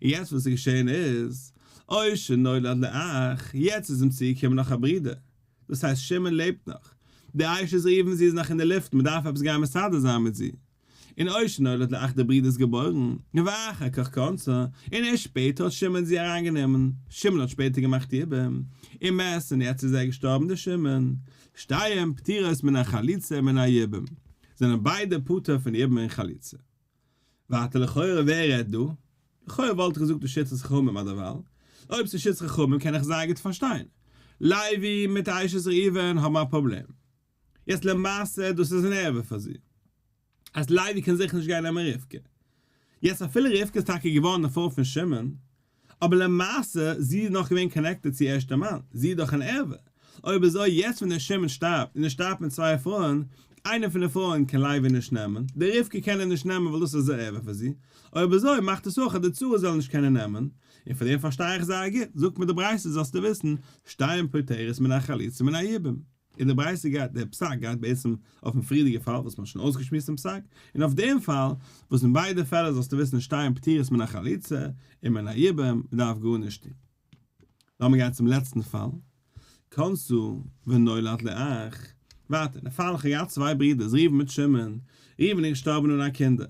יעצט וואס איז געשען איז, אוי שנולד לי אח, יעצט איז אים צוגעקומען נאך א ברודער, דאס הייסט שמעון לעבט נאך, די אשה איז ריווען זי איז נאך אין די לופטן מען דארף עפעס גיין מסדר זיין מיט זי, און אוי שנולד לי אח די ברודער איז געבוירן, ואחר כך קונצה, און ערשט שפעטער האט שמעון זי אריין גענומען, שמעון האט שפעטער געמאכט איבער, און מעש און יעצט איז ער געשטארבן די שמעון. שתיהן פטורות מן החליצה ומן היבום, זענען ביידע פטור פון יבום און חליצה. ווייטער לכאורה ווער רעדט דא? לכאורה וואלט איך געזאגט לשיטת חכמים אדער ווייל אויב ס'איז שיטת חכמים קען איך זייער גוט פארשטיין לייבי מיט אשת ראובן האבן א פראבלעם. יעצט למעשה דאס איז אן ערבה פאר זי אז לייבי קען זיכער נישט גיין נעמען רבקה. יעצט אפילו רבקה איז טאקע געווארן די פרוי פון שמעון אבער למעשה זי איז נאך געווען קאנעקטעד צו ערשטע מאן, זי איז דאך אן ערווה, אויב אזוי יעצט ווען דער שמעון שטארבט און ער שטארבט מיט צוויי פרויען, איינע פון די פרויען קען לייבי נישט נעמען, די רבקה קען אים נישט נעמען ווייל דאס איז א ערווה פאר זי, אויב אזוי מאכט דאס אויך אז די צרה זאל נישט קענען נעמען, און פאר דעם פארשטיי איך זייער גוט, זאגט מיר די ברייתא זאלסטו וויסן, שתיים פוטרת מן החליצה מן היבום. אין די ברייתא גייט דער פסק גייט בעצם אויפן פריערדיגע פאל וואס מ'האט שוין אויסגעשמועסט דעם פסק, און אויף דעם פאל וואס אין ביידע פעלער זאלסטו וויסן עס שטייען פטורות מן החליצה און מן היבום, מ'דארף גארנישט טון. לאמיר גיין צום לעצטן פאל, כנסו ונולד לאח, ווארט, אין די פאל איך האב געהאט צוויי ברודערס ראובן מיט שמעון, ראובן איז געשטארבן אן א קינדער,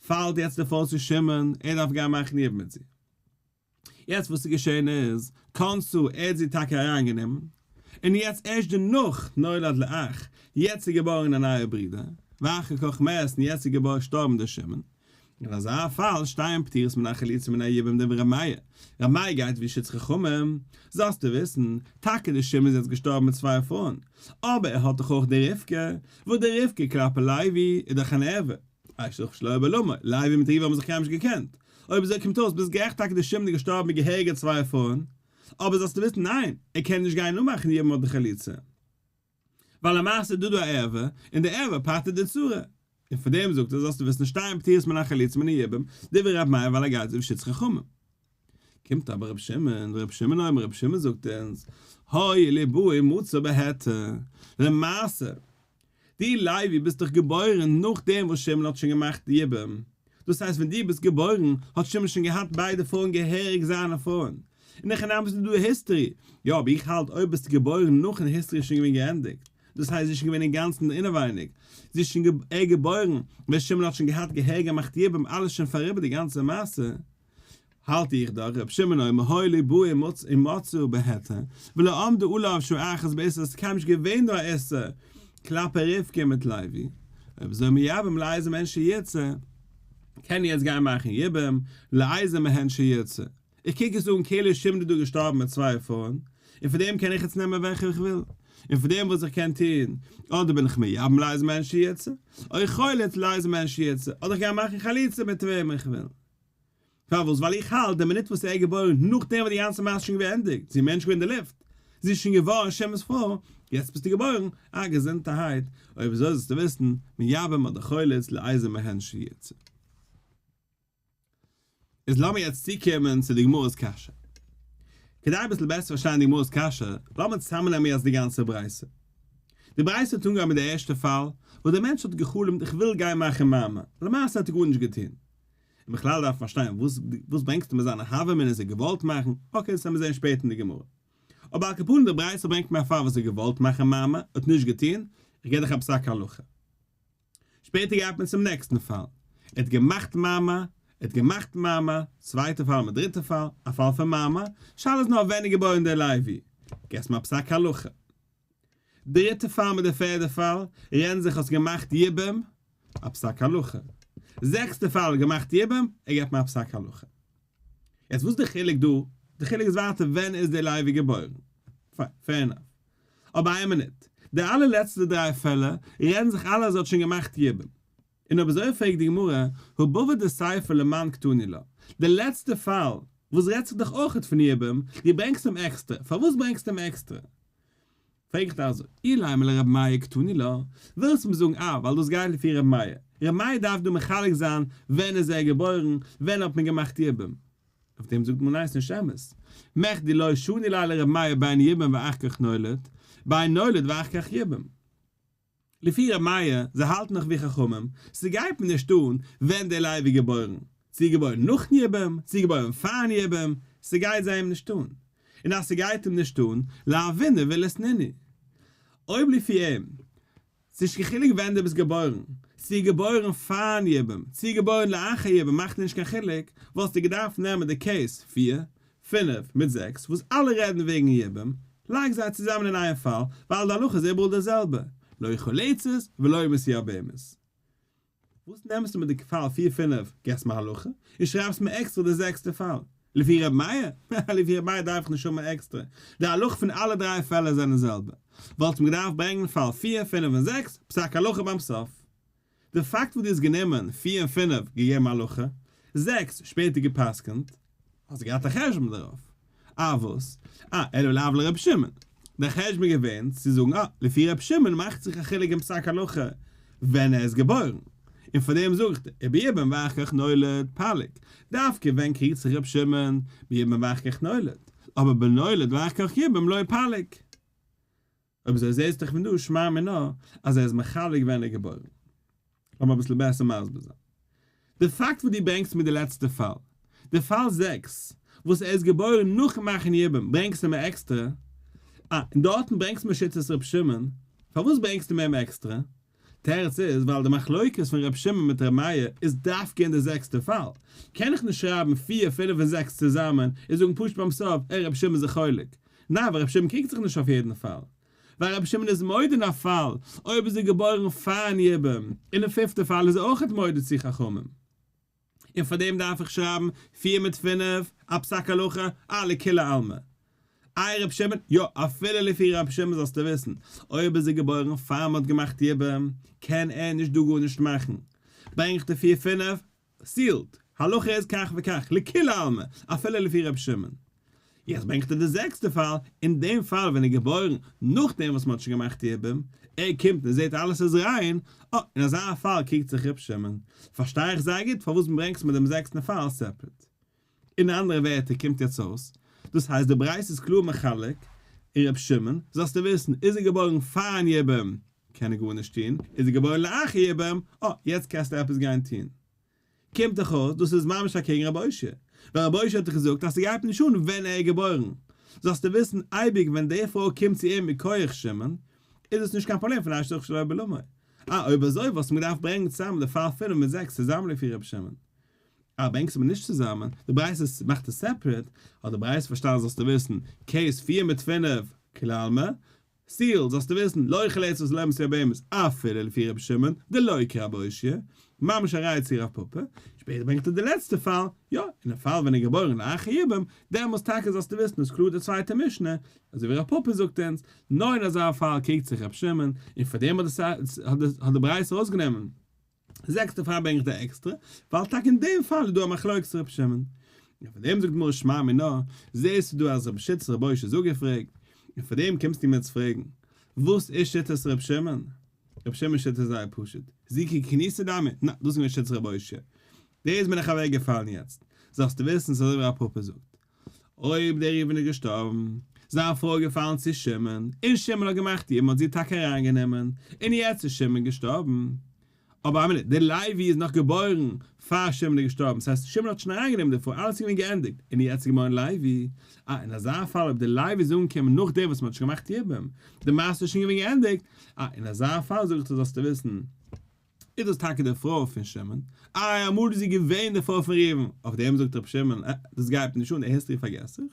פאלט יעצט די פרוי צו שמעון, ער דארף גיין מאכן יבום מיט זי. יעצט וואס איז געשען איז, קאנסו, ער האט זי טאקע אריין גענומען, און יעצט ערשט דערנאך נולד לאח, יעצט איז געבארן א נייער ברודער, ואחר כך מת, און יעצט איז געשטארבן דער שמן, אין אזא פאל שטייען פטירות מן החלוצים מן היובים דברי ר' מאיר, ר' מאיר גייט ווי שטות חכמים, זאלסטו וויסן, טאקע דער שמן איז יעצט געשטארבן מיט צוויי פרויען, אבער ער האט דאך אויך די רבקה, וואס די רבקה כלפי לוי איז דאך אן ערוה, א שוך שלא היה בעלמא, לייב און מתיבה האבן זיך קיינמאל נישט געקענט. אויב אזוי קומט אויס ביזט גערעכט טאקע די שמד איז געשטארבן מיט געהעריגע צוויי פאון, אבער זאלסטו וויסן ניין, ער קען נישט גיין נאכמאכן יעדן מאל די חליצה, ווייל למעשה איז דא דא א ערווה, און די ערווה פטר'ט די צרה, און פון דעם זאגט ער זאלסטו וויסן שתיים פטירות מן החליצה מן היבם, דברי רב מאיר ווייל ער גייט אויף שיטת חכמים. קומט אבער רבי שמעון, רבי שמעון אומר, רבי שמעון זאגט אונז, הוי ליבוי מוצא בהעתה, למעשה, דו לייבי ביסט דאך געבוירן נאכדעם וואס שמעון האט שוין געמאכט די יבום, דאס הייסט ווען דו ביסט געבוירן האט שמעון שוין געהאט ביידע פרויען געהעריג זיינע פרויען, און נאכדעם ביסטו דו היסטרי, יא אבער איך האלט אויב ביסטו געבוירן נאכן היסטרי איז שוין געווען געענדיגט, דאס הייסט זי איז שוין געווען אינגאנצן אינעווייניג, זי איז שוין געבוירן ווען שמעון האט שוין געהאט געהעריג געמאכט יבום אלעס שוין פאריבער די גאנצע מעשה, האלט איך דאך ר' שמעון אויב מהאי לי באו אין מצאו בהיתר ולא עמדו אלא אויף שעה אחת בעשר איז קיינמאל נישט געווען דא א איסור כלפי רבקה מיט לוי אויב אזוי מייבם לאיזה מהן שירצה קען יעצט גיין מאכן יבם לאיזה מהן שירצה איך קוק עס אן כאילו שמעון איז דא געשטארבן מיט צוויי פרויען און פון דעם קען איך יעצט נעמען וועלכע איך וויל און פון דעם וואס איך קען טון אדער בין איך מייבם לאיזה מהן שירצה אוי חולת לאיזה מהן שירצה אדער איך גיי מאכן חליצה מיט וועם איך וויל פארוואס? ווייל איך האלט די מינוט וואס ער איז געבוירן נאכדעם וואס די גאנצע מעשה איז שוין געווען געענדיגט, זי איז מער נישט געווען אין די לופט, זי איז שוין געווארן השם'ס פרוי, יעצט ביסטו געבוירן, אה געזונטערהייט, אוי וויאזוי זאלסטו וויסן, מיאבים אדער חולת לאיזה מהן שיצא. איז לאמיר יעצט צוקומען צו די גמרא'ס קשיא. כדי אביסל בעסער פארשטיין די גמרא'ס קשיא, לאמיר צוזאמנעמען יעצט די גאנצע ברייתא. די ברייתא האט אנגעהויבן מיט די ערשטע פאל, וואס דער מענטש האט גע'חלומ'ט איך וויל גיין מאכן מאמע, למעשה האט ער גארנישט געטון, און בכלל דארף מען פארשטיין וואס וואס ברענגסטו מיט זיינע הוה מינוס זיי געוואלט מאכן, אקעי דאס וועל מיר זעהן שפעטער אין די גמרא. אבער על כפנים די ברייתא ברענגט מער פאר וואס זיי געוואלט מאכן מאמע האט נישט געטוהן, איך גיב דיך א פסק הלכה. שפעטער גייט מען צום נעקסטן פאל, ער האט געמאכט מאמע, ער האט געמאכט מאמע, צווייטע פאל אדער דריטע פאל, א פאל פון מאמע, שאלה איז נאר ווען איז געבוירן די לייבי, גיבסט מיר א פסק הלכה. דריטע פאל מיט די פערדע פאל, רען זיך האסט געמאכט יבם, א פסק הלכה. זעקסטע פאל געמאכט יבם, ער געבט מיר א פסק הלכה. יעצט וואס די חילוק דא? די חילוק איז ווייטער ווען איז די לייבי געבוירן. פיין, פעיר ענאף. אבער איין מינוט, די אלע לעצטע דריי פעלער, רען זיך אלע אז ער האט שוין געמאכט יבם. און אויב אזוי פרעגט די גמרא, הוא בבא דסייפא למען קטני לה, די לעצטע פאל וואס רעדט זיך דאך אויכעט פון יבום, דו ברענגסט אים עקסטער, פארוואס ברענגסטו אים עקסטער? פרעג איך דיר אזוי, אילאי מל' רבי מאיר קטני לה, ווילסט מיר זאגן אה ווייל דאס גייט לפי רבי מאיר, רבי מאיר דארף דא מחלק זיין ווען איז ער געבוירן, ווען האט מען געמאכט יבום? אויף דעם זאגט מען ניין ס'נישט אמת, מחדי לא שני ליה לרבי מאיר בין יבום ואחר כך נולד, בין נולד ואחר כך יבום. לפי ר' מאיר, זיי האלטן נאך ווי חכמים, ס'גייט מיר נישט אן ווען דער לייב איז געבוירן, צו איז געבוירן נאכן יבום, צו איז געבוירן פארן יבום, ס'גייט זיי אים נישט אן. און אז ס'גייט אים נישט אן, להבינו ולעשנינו. אויב לפי אים, ס'נישט קיין חילוק ווען דו ביסט געבוירן, צו איז געבוירן פארן יבום, צו איז געבוירן לאחר יבום מאכט נישט קיין חילוק, וואלסטו געדארפט נעמען די קעיס פֿיר, פינף מיט זעקס וואס אלע רעדן וועגן ייבום, לייג זיי צוזאמען אין איין פאל, ווייל די הלכה איז איבעראל די זעלבע, לא יאכל לצות ולא ימות יער בהמות. וואס נעמסטו מיט די פאל פיר פינף, געבסט מיר הלכה, און שרייבסט מיר עקסטער די זעקסטע פאל, לפי ר' מאיר? הא, לפי ר' מאיר דארף איך נישט האבן עקסטער, די הלכה פון אלע דריי פעלער זענען זעלבע, וואלטסט מיר געדארפט ברענגן פאל פיר, פינף און זעקס, פסק הלכה ביים סוף. די פאקט וואס דו האסט גענומען פֿיר און פֿינף געגעבן הלכה, זעקס שפעטער געפסקנט, האסט געהאט א חשבון דערויף. אה וואס? אה אלא לאו לרבי שמעון. דיין חשבון איז געווען צו זאגן אה, לפי רבי שמעון מאכט זיך א חילוק אין פסק הלכה ווען ער איז געבוירן, און פאר דעם זאגט ער, איבער יבם ואח כ נולד פלג, דווקא ווען קריגט זיך רבי שמעון ביבם ואח כ נולד, אבער בנולד ואח כ יבם לא פלג. אויב אזוי זעהסט דאך פון דא שמע מינה אז ער איז מחלק ווען ער איז געבוירן. לאמיר אביסל בעסער מסביר זיין די פאקט וואס דו ברענגסט מיט די לעצטע פאל. די פאל זעקס וואס ער איז געבוירן נאכן מאכן יבום ברענגסטו מיר עקסטער. אה, און דארטן ברענגסט מיר שיטת ר' שמעון. פארוואס ברענגסטו מיר אים עקסטער? תירוץ איז ווייל די מחלוקת פון ר' שמעון מיט ר' מאיר איז דווקא אין די זעקסטע פאל, קען איך נישט שרייבן פֿיר, פֿינף און זעקס צוזאמען און זאגן פשוט ביים סוף אה ר' שמעון איז א חולק. ניין ווייל ר' שמעון קריגט זיך נישט אויף יעדן פאל. ווייל ר' שמעון איז מודה אין א פאל אויב איז ער געבוירן פארן יבום, און אין פיפטע פאל איז ער אויכעט מודה צו חכמים. און פאר דעם דארף איך שרייבן פֿיר מיט פֿינף א פסק הלכה א לכולי עלמא? איי ר' שמעון? יא, אפילו לפי ר' שמעון זאלסטו וויסן, אויב איז ער געבוירן פאר מ'האט געמאכט יבום, קען ער נישט דא גארנישט מאכן. ברענג איך די פֿיר פֿינף, סיעלד! הלכה איז כך וכך, לכולי עלמא, אפילו לפי ר' שמעון. יעצט ברענגט ער די זעקסטע פאל, אין דעם פאל ווען ער איז געבוירן נאכדעם וואס מען האט שוין געמאכט יבום, ער קומט און זעט אלעס איז ריין, אה, אין אזא פאל קוקט זיך ר' שמעון, פארשטיי איך זייער גוט פארוואס ברענגסט מיר דעם זעקסטן פאל סעפרעט. אין אנדערע ווערטער קומט יעצט אויס, דאס הייסט די ברייתא איז קלאר מחלק, און ר' שמעון, זאלסטו וויסן, איז ער געבוירן פאר'ן יבום, קען ער גארנישט טון, איז ער געבוירן לאחר יבום, אה, יעצט קענסטו עפעס גיין טון. קומט דאך אויס דאס איז ממש אקעגן רבי אוישיע, ווייל רבי אוישיע האט דאך געזאגט אז ס'גייט נישט אן ווען ער איז געבוירן, זאלסטו וויסן אייביג ווען די פרוי קומט צו אים מכח שמעון, איז עס נישט קיין פראבלעם פון אשתו כשלא בעלמא, אה אויב אזוי וואלסטו מיר געדארפט ברענגן צוזאמען די פאל פינף מיט זעקס צוזאמען לפי רבי שמעון, אה ברענגסטו מיר נישט צוזאמען, די ברייתא מאכט עס סעפרעט, האט די ברייתא פארשטאנען זאלסטו וויסן, קעיס פֿיר מיט פֿינף כלל מ, סטיל, זאלסטו וויסן, לא יחל עצות לעמסי הבהמות, אפילו לפי רבי שמעון, דלא יקרא אבא אושיה, ממש א ראיה צו רב פפא, שפעטער ברענגט ער די לעצטע פאל, יא, אין א פאל ווען ער איז געבוירן לאחר יבם, דעמאלס טאקע זאלסטו וויסן איז קלאר די צווייטע משנה, אזוי ווי רב פפא זאגט אונז, נאר אין אזא פאל קריגט זיך רבי שמעון, און פאר דעם האט די ברייתא אויסגענומען, זעקס דערפאר ברענג איך די עקסטרע, ווייל טאקע אין דעם פאל איז דא א מחלוקת ר' שמעון. און פאר דעם זאגט די גמרא שמע מינה, זעסטו דא אז רבי שיטת רבי אויש איז אפגעפרעגט, און פאר דעם קומסטו מיר צו פרעגן, וואס איז שיטת ר' שמעון? ר' שמעון'ס שיטה איז זייער פשוט, זיקי כניסא דמי, נ, דאס איז געווען שיטת רבי אויש, דאס בין איך אוועק געפאלן יעצט, זאלסטו וויסן ס'איז אזוי ווי רב פפא זאגט, אויב דער ריבן איז געשטארבן, זיין פרוי איז געפאלן צו שמעון, און שמעון האט געמאכט איר, מ'האט זי טאקע אריינגענומען, און יעצט איז שמעון געשטארבן, אבער א מינוט, דער לוי איז נאך געבוירן פאר שמעון איז געשטארבן, ס'הייסט אז שמעון האט שוין אריינגענומען די פרוי, אלעס איז געווען געענדיגט, און יעצט איז געבוירן לוי, אה, אין אזא פאל אויב דער לוי איז אנגעקומען נאכדעם וואס מ'האט שוין געמאכט יבום, די מעשה איז שוין געווען געענדיגט, אה, אין אזא פאל זאג איך דיר זאלסטו וויסן, איז דאס טאקע די פרוי פון שמעון? איי אמאל איז זי געווען די פרוי פון ראובן? אויף דעם זאגט רבי שמעון, אה, דאס גייט מיר נישט אן, די היסטארי פארגעס איך,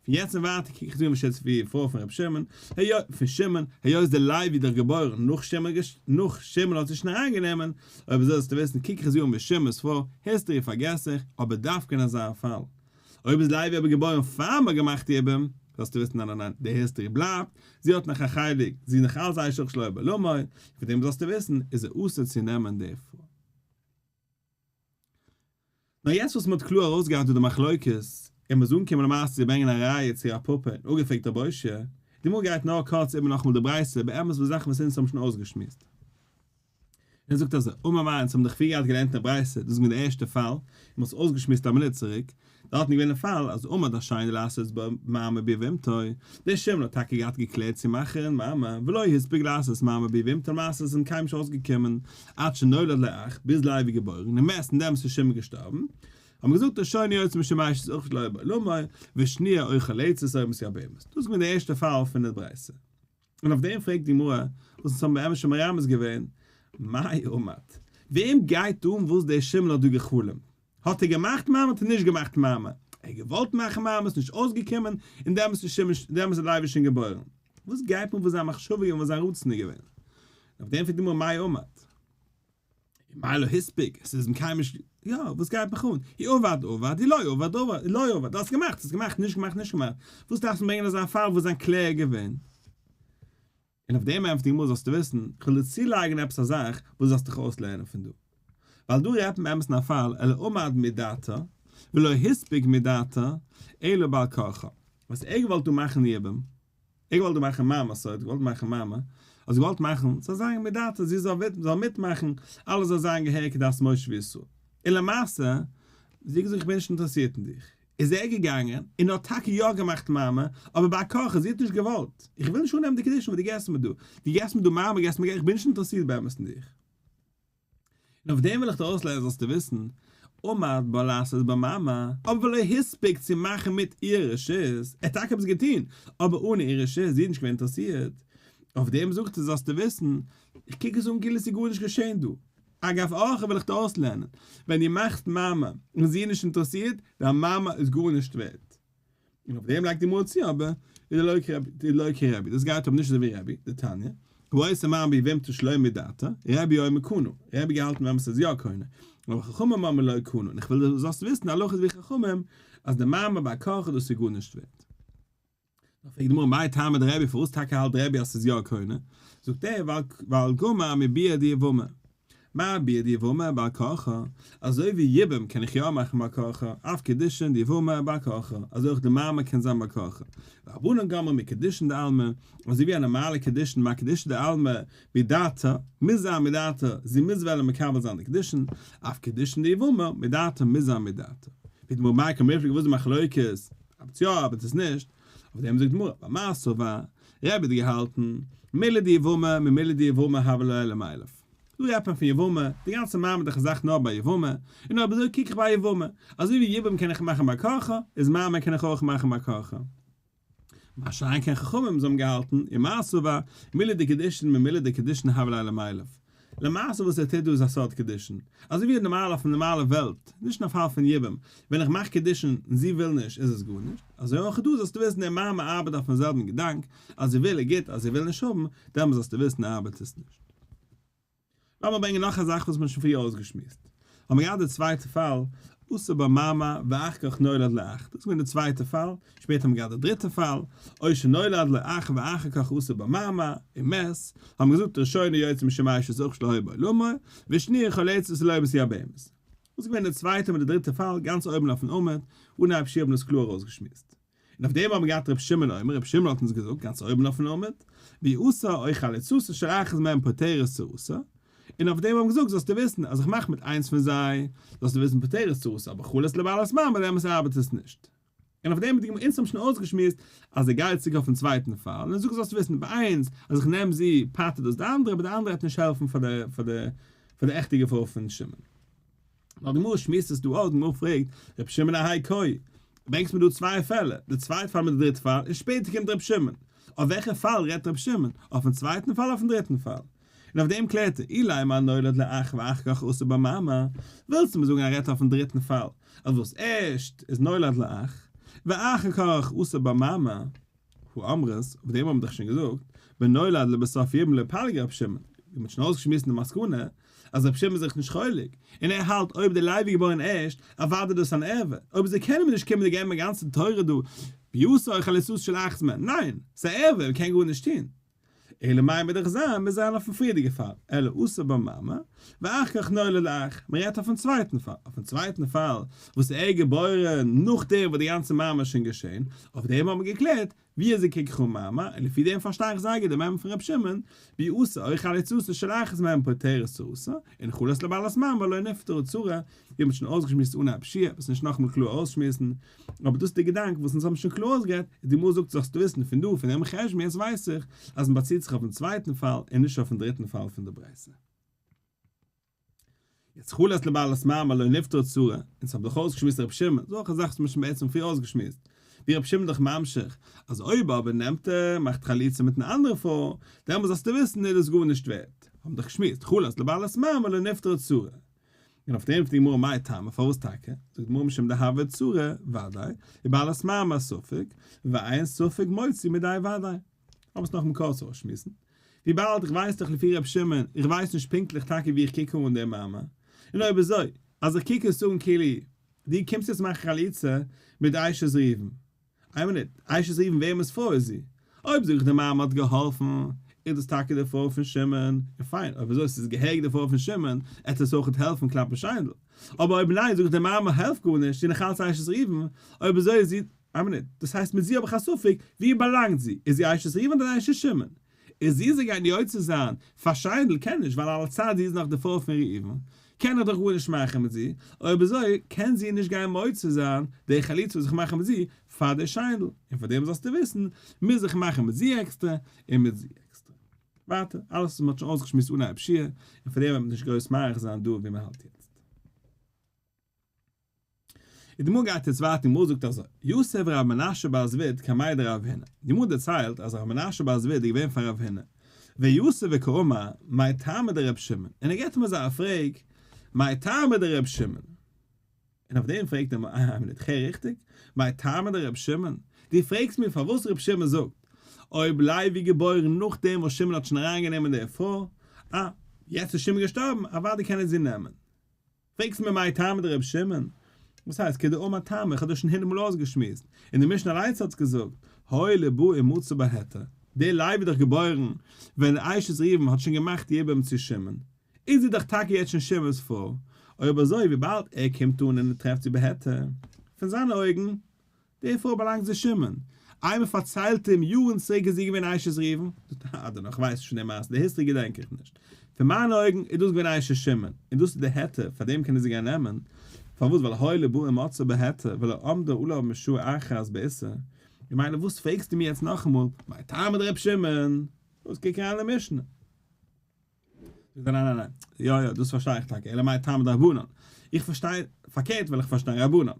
פון יעצט און ווייטער קוק איך דיר נישט אויס ווי די פרוי פון רבי שמעון, היות, פון שמעון, היות דער לוי דאך געבוירן נאך שמעון געש, נאך שמעון האט זי שוין אריינגענומען, אויב אזוי זאלסטו וויסן, קוק איך זי אן ווי שמעון'ס פרוי, היסטארי פארגעס איך, אבער דווקא אין אזא פאל, אויב איז לייבי אבער געבוירן פאר מען האט געמאכט די איברים, זאלסטו וויסן ניין ניין ניין, די היסטערי בלייבט, זי האט נאך א חלק, זי איז נאך אלץ אייש אויך שלא בלא מאה, פון דעם זאלסטו וויסן איז ער אסור צו נעמען די פרוי. נאר יעצט וואס מען האט קלאר ארויסגעהאט דא די מחלוקת, און מען איז אנגעקומען למעשה צו ברענגען א ראיה צו א פאפא און אפגעפרעגט רב אשר, די גמרא גייט נאר קורץ איבער נאכאמאל די ברייתא, באמת וואס זאכן וואס אונז האבן שוין אויסגעשמועסט. ער זאגט אזוי, אמר מרן, אונז האבן דאך פריער געהאט געלערנט אין ברייתא דאס מיט די ערשטע פאל, און מ'האט עס אויסגעשמועסט א מינוט צוריק, דארט איז געווען א פאל אז אמר דער שני לעשות בה מעמא ביבימתו, דער שמן האט טאקע געהאט געקלערט צו מאכן מעמא, ולא הספיק לעשות מעמא ביבימתו למעשה איז אים קיינמאל נישט אויסגעקומען עד שנולד לאח, ביז לייב איז געבוירן, און מעסטן דעמאלס איז שמן געשטארבן, האט מען געזאגט דער שני יוצא משמש איז אויך לא בא, למה, ושניא אוכל עצות אויב עס איז א בהמות, דאס איז געווען די ערשטע פאל פון די ברייתא. און אויף דעם פרעגט די גמרא, וואס אונז האבן באמת שוין מרמז געווען, מאי אומת? וועם גייט אן וואס דער שימל האט דא גע'חלומ'ט? האט ער געמאכט מאמר האט ער נישט געמאכט מאמר? ער האט געוואלט מאכן מאמר עס איז נישט אויסגעקומען, און דעמאלס איז שמעון דעמאלס איז לייביש שוין געבוירן? וואס גייט אן וואס זיין מחשבה איז געווען וואס זיין רצון איז געווען? און אויף דעם פרעגט די גמרא מאי אומת? מיילא הספיק, עס איז מקיים נישט, יא, וואס גייט מיך אן, היא עובד עובד, היא לא עובד עובד, היא לא עובד, האסט געמאכט, האסט געמאכט, נישט געמאכט, נישט געמאכט, וואס דארפסטו ברענגען אזא פאל וואס זיין קלער געווען? און אויף דעם ענטפערט די גמרא זאלסטו וויסן, כ'וועל דיר צולייגן עפעס א זאך וואס דו זאלסט דיך אויסלערנען פון דא, ווייל דא רעדט מען באמת אין א פאל, אלא עמד מדעתו, ולא הספיק מדעתו, אלא בעל כרחו, וואס ער האט געוואלט דא מאכן יבום, איך וואלט דא מאכן מיין מסורה, געוואלט מאכן מיינע, אז געוואלט מאכן, ס'זאל זיין מיט דאטא, זי זאל וויסן, זאל מיטמאכן, אלעס זאל זיין געהעריג כדת משה וישראל. און למעשה, זי האט געזאגט איך בין נישט אינטערעסירט אין דיך. איז ער געגאנגען, און האט טאקע יא געמאכט מאמע, אבער ביי הכרחי, זי האט נישט געוואלט. איך וויל נישט אננעמען די קדישים וואס דו געסט מיר דא. דו געסט מיר דא מאמע, געסט מיר געלט, איך בין נישט אינטערעסירט באמת אין דיך. און אויף דעם וויל איך דיר אויסלערנען זאלסטו וויסן, עמד בו לעשות בו מאמר, אבער ולא הספיק צו מאכן מיט איהר רשות, ער האט טאקע עפעס געטוהן, אבער אן איהר רשות, זי איז נישט געווען אינטערעסירט, אויף דעם זאגט ער זאלסטו וויסן, איך קוק עס אן כאילו עס איז גארנישט געשעהן דא, אגב אורחא וויל איך דיר אויסלערנען, ווען דו מאכסט מאמר און זי איז נישט אינטערעסירט, דיין מאמר איז גארנישט ווערט. און אויף דעם לייגט די מוהל צו אבער איז לא כרבי, לא כרבי, דאס גייט אבער נישט אזוי ווי רבי, די תניא, כבאית אמר בי ואם תשלום בי דעתא, רבי אומר קנו, רבי געהאלטן ווען עס איז יא קונה, אבער חכמים אמרו לא קנו, און איך וויל דו זאלסט וויסן הלכות ווי חכמים, אז די מעמד ביי קאך איז דאס איז גארנישט ווערט. דאן פרעגט די גמרא מאי טעמא דרבי פארוואס טאקע האלט רבי אז עס איז יא קונה, זאגט ער ווייל גמא מביאה דיעבומא, מה בידי ואומר בעל כרחו, אזוי ווי יבום קען איך יא מאכן בעל כרחו, אויף קידושין די ואומר בעל כרחו, אזוי אויך די מאמר קען זיין בעל כרחו, והבנן גמר מקידושין דעלמא, אזוי ווי א נארמאלע קידושין מקדישא דעלמא מדעתא, מוז זיין מדעתא, זי מוז וועלן מקבל זיין די קידושין, אויף קידושין די ואומר מדעתא מוז זיין מדעתא. ווי די מאמר מייקר מפליג וואס די מחלוקת, אבער צו יא אבער צו נישט, אויף דעם זאגט די גמרא, במסור ו, רבי האט געהאלטן, מילא די יבמה, ממילא די יבמה הוה לא אלא מאליו. דא רעדט מען פון יבמה, די גאנצע מעמד איך זאך נאר ביי יבמה, און אויב אזוי קוק איך ביי יבמה. אזוי ווי יבום קען איך מאכן ביי ק ח, איז מעמד קען איך אויך מאכן ביי ק ח. מה שאין כן חכמים זיי האבן געהאלטן, און מעשיו בה, מילא די קידושין ממילא די קידושין הוה לא אלא מאליו. למעשה וואס ער טוט דא איז א סוד קידושין, אזוי ווי נארמאל אויפן נארמאלע וועלט, נישט אין א פאל פון יבום, ווען איך מאך קידושין און זי וויל נישט איז עס גארנישט, אזוי אויך דא זאלסטו וויסן די מאמע ארבעט אויפן זעלבן געדאנק, אז זי וויל איז גוט אז זי וויל נישט האבן, דעמאלס זאלסטו וויסן ארבעט עס נישט. לאמיר ברענגען נאך א זאך וואס מען האט שוין פריער אויסגעשמועסט. האבן מיר געהאט די צווייטע פאל, עשה בה מאמא ואח כך נולד לאח, דאס איז געווען די צווייטע פאל, שפעטער האבן מיר געהאט די דריטע פאל, או שנולד לו אח ואחר כך עשה בה מאמא, און מעז, האבן מיר געזאגט ראשונה יוצא משמיא שזה אח שלא היה בעולמו, ושניה חולצת זה לא היה בשיא הבהמות. דאס איז געווען די צווייטע מיט די דריטע פאל, גאנץ אויבן אויפן עמוד, אנהייב שיעור האט מען דאס קלאר אויסגעשמועסט. און אויף דעם האבן מיר געהאט ר' שמעון אומר, ר' שמעון האט אונז געזאגט גאנץ אויבן אויפן עמוד, ווי עשה אוי חליצות אשר אחז מהם פטרת צרותא, און אויף דעם האבן געזאגט זאלסטו וויסן אז איך מאך מיט איינס פון זיי, זאלסטו וויסן פטרת צרותא אבער חלת לבעלת מים ביי דעם עס ארבעט עס נישט. און אויף דעם האט די גמ' אונז האבן שוין אויסגעשמועסט אז דער גייט צוריק אויפן צווייטן פאל, און ער זאגט זאלסטו וויסן ביי איינס אז איך נעם זי פטר'ט דאס די אנדערע, אבער די אנדערע וועט נישט העלפן פאר די עכטע געפאר פון שמעון. נאר די גמרא שמועסט עס דא אויס, די גמרא פרעגט, רבי שמעון א היי קוי, ברענגסט מיר דא צוויי פעלער, די צווייטע פאל מיט די דריטע פאל, און שפעטער קומט רבי שמעון, אויף וועלכע פאל רעדט רבי שמעון, אויפן צווייטן פאל אויפן דריטן פאל? און אויף דעם קלערט ער, אילאי מה נולד לאח ואחר כך אסור במאמר, ווילסט מיר זאגן ער רעדט אויפן דריטן פאל, אז וואס ערשט איז נולד לאח, ואחר כך אסור במאמר? הוא אמרת, אויף דעם האבן מיר דאך שוין געזאגט, ונולד לבסוף יום לפלג רבי שמעון, מיר האבן שוין אויסגעשמועסט די מסקנא, אז רבי שמעון איז זיך נישט חולק, און ער האלט אויב דער לוי איז געבוירן ערשט, אוודאי איז דאס אן ערבה, אויב איז ער קען מיר נישט קומען און געבן א גאנצע תורה דא, ויאסור חליצות של אחת מהן, ניין, ס'איז א ערבה, מ'קען גארנישט טון. אלא מאי מ'דארך זיין מיר זענען אויפן פריערדיגע פאל, אלא עשה בה מאמר, ואחר כך נולד לך, מ'רעדט אויפן צווייטן פאל, אויפן צווייטן פאל וואס איז ער געבוירן נאכדעם וואס די גאנצע מאמר איז שוין געשען, אויף דעם האט מען געקלערט ווי אזוי קוק איך אן מאמר, און לפי דעם פארשטיי איך זייגער די מאמר פון ר' שמעון, ווי עשה אויך על עצתו של אחז מהן פותרת צו עשה, און חולת לבעלת מאמר לא נפתרה צרה, ווי מ'האט שוין אויסגעשמועסט אן א פשיעה, וואס נישט נאכאמאל קלאר אויסשמועסן, אבער דאס איז דער געדאנק וואס אונז האבן שוין קלאר אויסגערעדט, און די גמרא זאגט זאלסטו וויסן פון דא, פון דעם חשבון, יעצט ווייס איך אז מען באציט זיך אויפן צווייטן פאל און נישט אויפן דריטן פאל פון די ברייתא. יעצט חלת לבעלת מאמר לא נפטרה צרה, אונז האבן דאך אויסגעשמועסט רבי שמעון, דאס איז אויך א זאך וואס מען האט שוין בעצם פריער אויסגעשמועסט, ווי רבי שמעון איז דאך ממשיך אז אויב אבער נעמט ער, מאכט חליצה מיטן אנדערן פאל, דעמאלט זאלסטו וויסן איז דאס גארנישט ווערט, האבן דאך געשמועסט חלת לבעלת מאמר לא נפטרה צרה. און אויף דעם פרעגט די גמרא מאי טעמא, פארוואס טאקע? זאגט די גמרא משום דהוה צרה, וודאי, ובעלת מאמר ספק, ועיין ספק מוציא מידי וודאי. האב עס נאך מקור צו אויסשמועסן. וויבאלד איך ווייס דאך לפי ר' שמעון, איך ווייס נישט פונקטליך טאקע ווי איך קוק אן דעם מאמר, און אויב אזוי, אז איך קוק עס אן כאילו דו קומסט יעצט מאכן חליצה מיט איישעס ריבן, איין מינוט, אייש איז איוון וועמענס פרוי איז זי? אויב זאג איך די מאמע האט געהאלפן, איז דאס טאקע די פרוי פון שמעון, און פיין, אויב אזוי ס'איז געהעריג די פרוי פון שמעון, עט עס אויכעט העלפן כלפי שיינדל. אבער אויב ניין, זאג איך די מאמע העלפט גארנישט, זי איז נאך אלץ אייש'ס איוון, אויב אזוי איז זי, איין מינוט, דאס הייסט מיט זי האב איך א ספק, ווי באלאנגט זי, איז זי אייש'ס איוון אדער אייש'ס שמעון? איז זי זיי גייט יוצא זיין פאר שיידל קען נישט ווייל על הצד זי איז נאך די פרוי פון ראובן קען ער דאך גארנישט מאכן מיט זי אויב אזוי קען זי נישט גיין מוצא זיין די חליצה וואס איך מאך מיט זי פאר די שיידל און פאר דעם זאלסטו וויסן מוז איך מאכן מיט זי עקסטער און מיט זי עקסטער ווייטער אלעס וואס מען האט שוין אויסגעשמועסט אנהייב שיעור און פאר דעם וועט מען נישט גרויס מאריך זיין דא ווי מען האלט יעצט. די גמרא גייט יעצט ווייטער, די גמרא זאגט אזוי, יוסף ורבי מנשה בר זביד קמאי דרב הונא, די גמרא דערציילט אז רבי מנשה בר זביד איז געווען פאר רב הונא, ויוסף וקאומא, מאי טעמא דרבי שמעון, און ער געבט אים אזא א פרעג, מאי טעמא דרבי שמעון, און אויף דעם פרעגט אים א מינוט, כ'הער ריכטיג? מאי טעמא דרבי שמעון? דו פרעגסט מיר פארוואס רבי שמעון זאגט, אויב לייבי געבוירן נאכדעם וואס שמעון האט שוין אריינגענומען די פרוי, אה, יעצט איז שמעון געשטארבן, אוודאי קען ער זי נעמען. פרעגסט מיר מאי טעמא דרבי שמעון? וואס הייסט כדאמר טעמא? איך האב דאס שוין הונדערט מאל אויסגעשמועסט, און די משנה אליינס האט'ס געזאגט, הוי ל בא אין מצא בהיתר, דער לייב איז דאך געבוירן ווען דער אשת ראובן האט שוין געמאכט יבום צו שמעון, איז ער דאך טאקע יעצט שוין שמעון'ס פאר, אויב אזוי וויבאלד ער קומט אן און ער טרעפט זי בהיתר, פון זיינע אויגן, דערפאר באלאנגט זי שמעון. איינער פארציילט אים יארן צוריק איז זי געווען אשת ראובן, אדער נאך, כ'ווייס נישט פון די מעשה, די היסטארי געדענק איך נישט. פון מיינע אויגן איז דאס געווען אשת שמעון, און דאס איז די היתר, פאר דעם קענען זי גיין נעמען. פארוואס? ווייל הוי לב און מצא בהיתר ולא עמדה עליו משעה אחת באיסור. און מילא וואס פרעגסטו מיר יעצט נאכאמאל, מאי טעמא דרבי שמעון? וואס קוק אריין אין משנה. זאגט ער ניין ניין ניין, יא יא דאס פארשטיי איך טאקע, אלא מאי טעמא דרבנן, איך פארשטיי פארקערט וויל איך פארשטיין רבנן,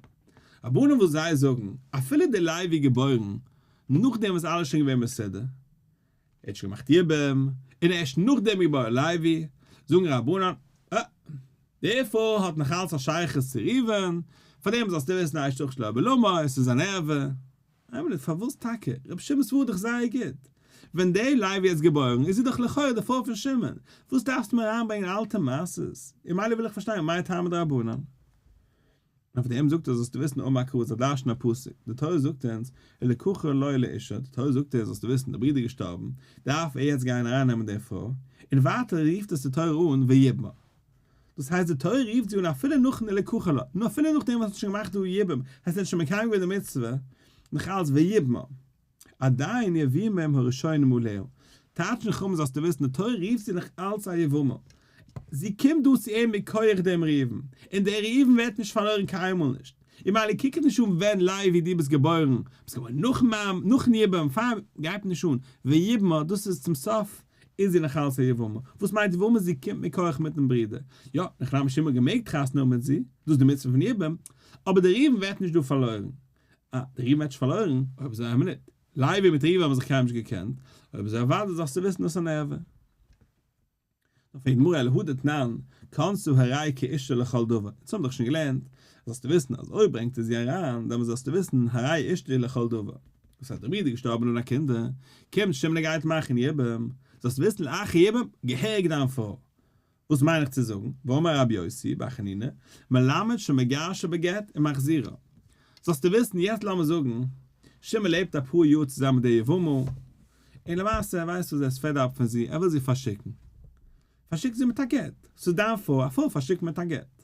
רבנן וואס זיי זאגן אפילו דער לייב איז געבוירן נאכדעם וואס אלעס איז שוין געווען מסודר, ער האט שוין געמאכט יבום, און ערשט נאכדעם איז געבוירן לייבי, זאגן רבנן, אה, דערפאר האט נאכאלץ א שייכות צו ראובן, פארדעם זאלסטו וויסן אשת חיל שלא בלמא, עס איז אן ערווה. איין מינוט, פארוואס טאקע? רבי שמעון סווארט דאך זייער גוט. ווען דער לייב איז יעצט געבוירן איז זי דאך לכאורה די פרוי פון שמעון. וואס דארפסטו מיר אריינברענגען אלטע מעשות? און מילא וויל איך פארשטיין מאי טעמא דרבנן. אויף דעם זאגט ער זאלסטו וויסן אן מקור זיי דרש'ן א פסוק. די תורה זאגט אונז ולקחה לו לאישה, די תורה זאגט אונז זאלסטו וויסן די ברודער איז געשטארבן, דארף ער יעצט גיין ארייננעמען די פרוי. און ווייטער רופט עס די תורה אן ויבמר. דאס הייסט די תורה רופט זי אן אפילו נאכן די לקחה לה, נו אפילו נאכדעם וואס האט שוין געמאכט די יבום, הייסט ער האט שוין מקיים געווען די מצוה, נאך אלץ ויבמה, עדיין יבימם הראשונים עליהו, טייטש אין חומש זאלסטו וויסן די תורה רופט זי נאך אלץ א יבמה, זי קומט דא צו אים מכח דעם ראובן, און דער ראובן ווערט נישט פארלוירן קיינמאל נישט, און ממילא קוק אים נישט אן ווען לייבי דו ביסט געבוירן, ביסט געבוירן נאכן יבום, פאר יבום, גייט אים נישט אן, ויבמה דאס איז צום סוף, איז זי נאך אלס א יבמה? וואס מיינט יבמה? זי קומט מכח מיטן ברודער. יא, נאך רבי שמעון האט געמעגט חתונה האבן מיט זי, דאס איז די מצוה פון יבום, אבער די ראובן ווערט נישט דא פארלוירן. אה, די ראובן ווערט נישט פארלוירן, אויב זיי האבן ניט. לייבי מיט ראובן האבן זיך קיינמאל נישט געקענט, אויב איז אוודאי זאלסטו וויסן דאס אן עבר. נאר פרעגט די גמרא על הא דתנן, כנסו הראי כאישה לכל דבר, אונז האבן דאך שוין געלערנט, זאלסטו וויסן אז אויב ברענגט ער זי אריין, דעמאלס זאלסטו וויסן הראי אשתי לכל דבר. וואס האט דער ברודער געשטארבן אן א קינד, קומט שמעון און גייט מאכן יבום, זאלסט וויסן לאחר יבום, געהעריג דיין פרוי. וואס מיין איך צו זאגן, ואמר רבי יוסי בר חנינא, מלמד שמגרשה בגט און מחזירה. זאלסטו וויסן, יעצט לאמיר זאגן, שמעון לעבט אפאר יאר צוזאמען מיט די יבמ'ל, און למעשה ער ווייסט וואס זי איז פעד אפ פון זי, ער וויל זי פארשיקן. פארשיק זי מיט א גט. ס'איז דיין פרוי, א פרוי פארשיקט מען מיט א גט.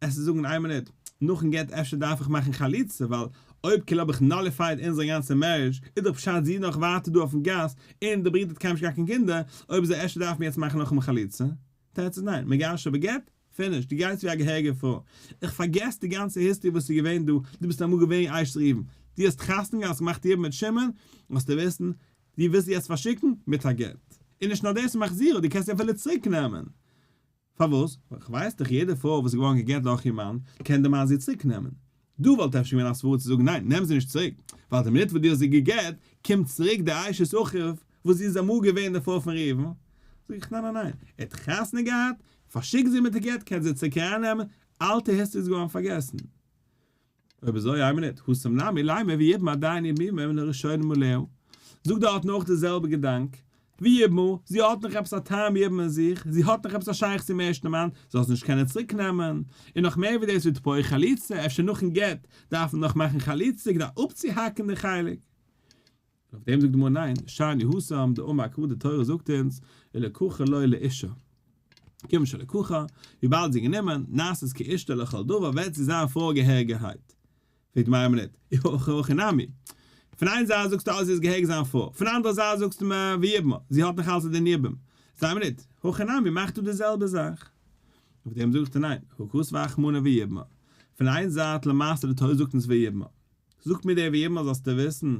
עסן זאגן איין מינוט, נאכן גט אפשר דארף איך מאכן חליצה ווייל אויב כאילו האב איך נאליפייד אונזער גאנצע מערידזש איז דאך פשט זי איז נאך ווייטער דא אויפן גאס און די ברודער האט קיינמאל נישט געהאט קיין קינדער, אויב אזוי אפשר דארף מען יעצט מאכן נאכאמאל חליצה? תירץ איז ניין, מגרשא בגט, פיניש, דו גייסט ווי א געהעריגע פרוי. איך פארגעס די גאנצע היסטערי וואס איז געווען דא, דו ביסט אמאל געווען אשת ראובן, דו האסט חתונה געהאט, האסט געמאכט יבום מיט שמעון, זאלסטו וויסן, דו ווילסט זי יעצט פארשיקן מיט א גט. און נישט נאר דאס, מחזירה, דו קענסט זי אפילו צוריק נעמען. פארוואס? ווייל כ'ווייס דאך יעדע פרוי וואס איז געווארן גע'גט דורך איר מאן, קען דער מאן זי צוריק נעמען. דא וואלט אפשר געווען א סברא צו זאגן ניין, נעם זי נישט צוריק, ווייל די מינוט וואס דו האסט זי גע'גט, קומט צוריק דער אשת אחוב, וואס זי איז אמאל געווען די פרוי פון ראובן. זאג איך ניין ניין ניין, ער האט חתונה געהאט, פארשיקט זי מיט די גט, קענסט זי צוריק ארייננעמען, אלטע היסטארי איז געווארן פארגעסן. אויב אזוי איי מינוט, הוסם לעמי לעמי ויבם עדיין ימימה מן הראשונים מלאו. זאג דארט נאך די זעלבע געדאנק, ויבמו, זי האט נאך עפעס א טעם יבם אין זיך, זי האט נאך עפעס א שייכות צום ערשטן מאן, זי זאל עס נישט קענען צוריק נעמען, און נאך מער ווי דאס ווי תפארת חליצה, אפשר נאכן גט דארף מען נאך מאכן חליצה כדי אפצוהאקן די חלק. און אויף דעם זאגט די גמרא ניין, שאני הוא שם, די אומה הקרובה, די תורה זאגט אונז, ולקחה לו לאישה, כיוון שלקחה, וויבאלד זי איז גענומען, נעשית כאשתו לכל דבר, וועט זי זיין פרוי געהעריגערהייט. פרעגט די מראה מינית, איהא הכי נמי, פון איין זייט זאגסטו אז זי איז געהעריג זיין פרוי, פון אנדערע זייט זאגסטו מ ו יבמה, זי האט נאך אלס א דין יבום. זיי מינית, הכי נמי, מאכט דא די זעלבע זאך. אויף דעם זאגסטו ניין, הכרת ואכמנא ויבמה, פון איין זייט למעשה די תורה זאגט אונז ויבמה, זאגט מיר דער ווי אימער זאלסטו וויסן,